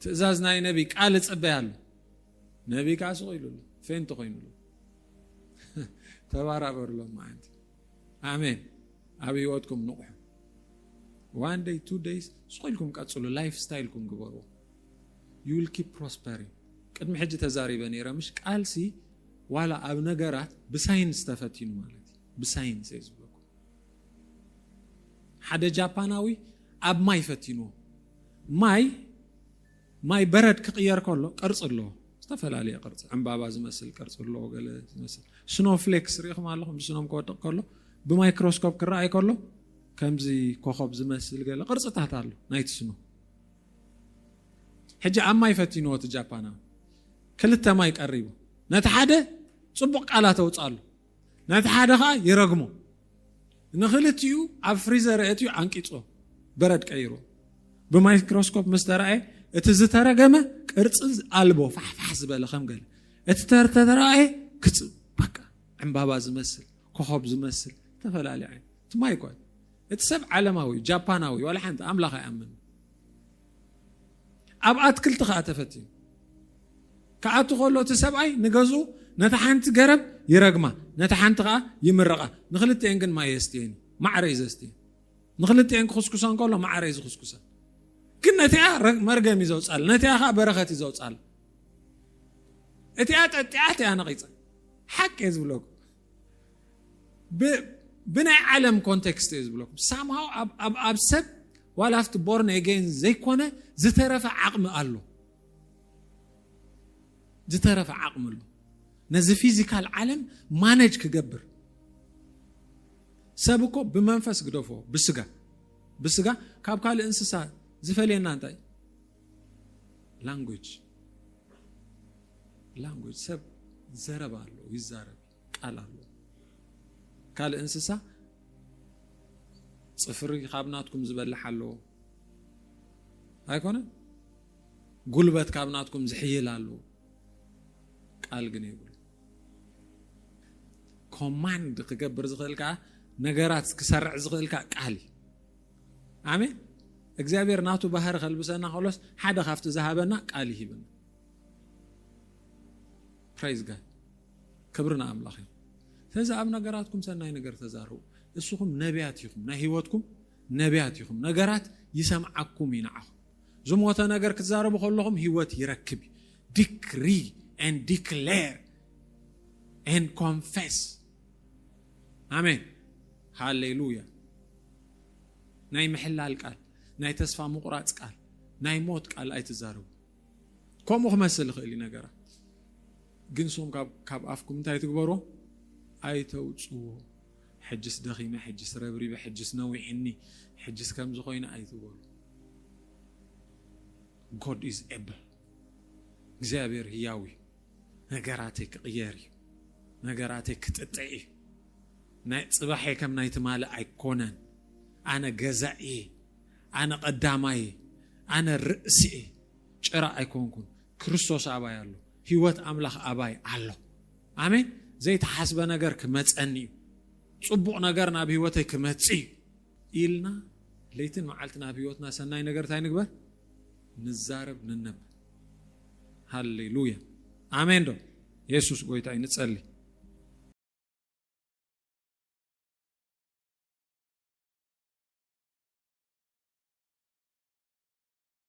ትእዛዝ ናይ ነቢ ቃል እፅበያ ኣሎ ነብይ ከኣ ስቕ ኢሉ ኣሎ ፌንት ኮይኑ ኣሎ ተባራበሩ ሎማዓንቲ ኣሜን ኣብ ህይወትኩም ንቑሑ ዋን ደይ ቱ ደይስ ስቕ ኢልኩም ቀፅሉ ላይፍ ስታይልኩም ግበሩ ዩ ዊል ኪፕ ፕሮስፐሪንግ ቅድሚ ሕጂ ተዛሪበ ነይረ ምሽ ቃልሲ ዋላ ኣብ ነገራት ብሳይንስ ተፈቲኑ ማለት እዩ ብሳይንስ እየ ዝብለኩ ሓደ ጃፓናዊ ኣብ ማይ ፈቲንዎ ማይ ማይ በረድ ክቕየር ከሎ ቅርጺ ኣለዎ። ዝተፈላለየ ቅርጺ ዕምባባ ዝመስል ቅርጺ ኣለዎ፣ ገለ ዝመስል ስኖ ፍሌክስ ርኢኹም ኣለኹም። ብስኖም ክወድቕ ከሎ ብማይክሮስኮፕ ክረኣይ ከሎ ከምዚ ኮኸብ ዝመስል ገለ ቅርጽታት ኣሎ ናይቲ ስኖ። ሕጂ ኣብ ማይ ፈቲንዎ እቲ ጃፓናዊ ክልተ ማይ ቀሪቡ ነቲ ሓደ ጽቡቕ ቃላት ኣውጻሉ። ነቲ ሓደ ኸኣ ይረግሞ። ንኽልቲኡ ኣብ ፍሪዘር ኣእትዩ ዓንቂጾ በረድ ቀይሮ። ብማይክሮስኮፕ ምስ ተራእየ እቲ ዝተረገመ ቅርጺ ኣልቦ ፋሕፋሕ ዝበለ ከም ገለ እቲ ተተራእየ ክጽ በቃ ዕምባባ ዝመስል ኮኸብ ዝመስል ዝተፈላለየ ዓይነት ትማይ ኳ እቲ ሰብ ዓለማዊ ጃፓናዊ ዋላ ሓንቲ ኣምላኽ ኣይኣምን ኣብ ኣትክልቲ ከኣ ተፈቲኑ ክኣቱ ከሎ እቲ ሰብኣይ ንገዝኡ ነታ ሓንቲ ገረብ ይረግማ ነታ ሓንቲ ከኣ ይምረቓ ንክልቲኤን ግን ማይ የስትየን ማዕረ እዩ ዘስትየን ንክልቲኤን ክኽስኩሰን ከሎ ማዕረ እዩ ዝኽስኩሰን ግን ነቲኣ መርገም እዩ ዘውፃል ነቲኣ ከዓ በረኸት እዩ ዘውፃል እቲኣ ጠጢዓት እያ ነቂፀ ሓቂ እየ ዝብለኩም ብናይ ዓለም ኮንቴክስት እየ ዝብለኩም ሳምሃው ኣብ ሰብ ዋላ ኣብቲ ቦርን ኤጌን ዘይኮነ ዝተረፈ ዓቕሚ ኣሎ ዝተረፈ ዓቕሚ ኣሎ ነዚ ፊዚካል ዓለም ማነጅ ክገብር ሰብ እኮ ብመንፈስ ግደፎ ብስጋ ብስጋ ካብ ካልእ እንስሳ ዝፈልየና እንታይ ላንጉጅ ላንጉጅ ሰብ ዘረባ ኣሎ ይዛረብ ቃል ኣሎ ካልእ እንስሳ ፅፍሪ ካብ ናትኩም ዝበልሕ ኣሎ ኣይኮነ ጉልበት ካብ ናትኩም ዝሕይል ኣሎ ቃል ግን ይብሉ ኮማንድ ክገብር ዝኽእል ከዓ ነገራት ክሰርዕ ዝኽእል ከዓ ቃል እዩ ኣሜን እግዚኣብሔር ናቱ ባህሪ ከልብሰና ከሎስ ሓደ ካብቲ ዝሃበና ቃል ይሂብና ፕራይዝ ጋድ ክብሪ ንኣምላኽ እዩ ስለዚ ኣብ ነገራትኩም ሰናይ ነገር ተዛርቡ እስኹም ነቢያት ኢኹም ናይ ህይወትኩም ነቢያት ኢኹም ነገራት ይሰምዓኩም እዩ ንዓኹም ዝሞተ ነገር ክትዛረቡ ከለኹም ህይወት ይረክብ እዩ ዲክሪ ን ዲክሌር ን ኮንፌስ ኣሜን ሃሌሉያ ናይ ምሕላል ቃል ናይ ተስፋ ምቑራፅ ቃል ናይ ሞት ቃል ኣይትዛረቡ ከምኡ ክመስል ይኽእል እዩ ነገራት ግን ሶም ካብ ኣፍኩም እንታይ ትግበሮ ኣይተውፅዎ ሕጅስ ደኺመ ሕጅስ ረብሪበ ሕጅስ ነዊሕኒ ሕጅስ ከምዚ ኮይነ ኣይትበሉ ጎድ ኢዝ ኤብል እግዚኣብሔር ህያው እዩ ነገራተይ ክቕየር እዩ ነገራተይ ክጥጠ እዩ ናይ ፅባሐይ ከም ናይ ትማሊ ኣይኮነን ኣነ ገዛእ እየ ኣነ ቀዳማይ ኣነ ርእሲ እየ ጭራ ኣይኮንኩን ክርስቶስ ኣባይ ኣሎ ህይወት ኣምላኽ ኣባይ ኣሎ ኣሜን ዘይተሓስበ ነገር ክመፀኒ እዩ ፅቡቕ ነገር ናብ ህይወተይ ክመፅ እዩ ኢልና ለይትን መዓልትን ኣብ ህይወትና ሰናይ ነገር እንታይ ንግበር? ንዛረብ ንነብ። ሃሌሉያ ኣሜን ዶ የሱስ ጎይታ እዩ። ንጸሊ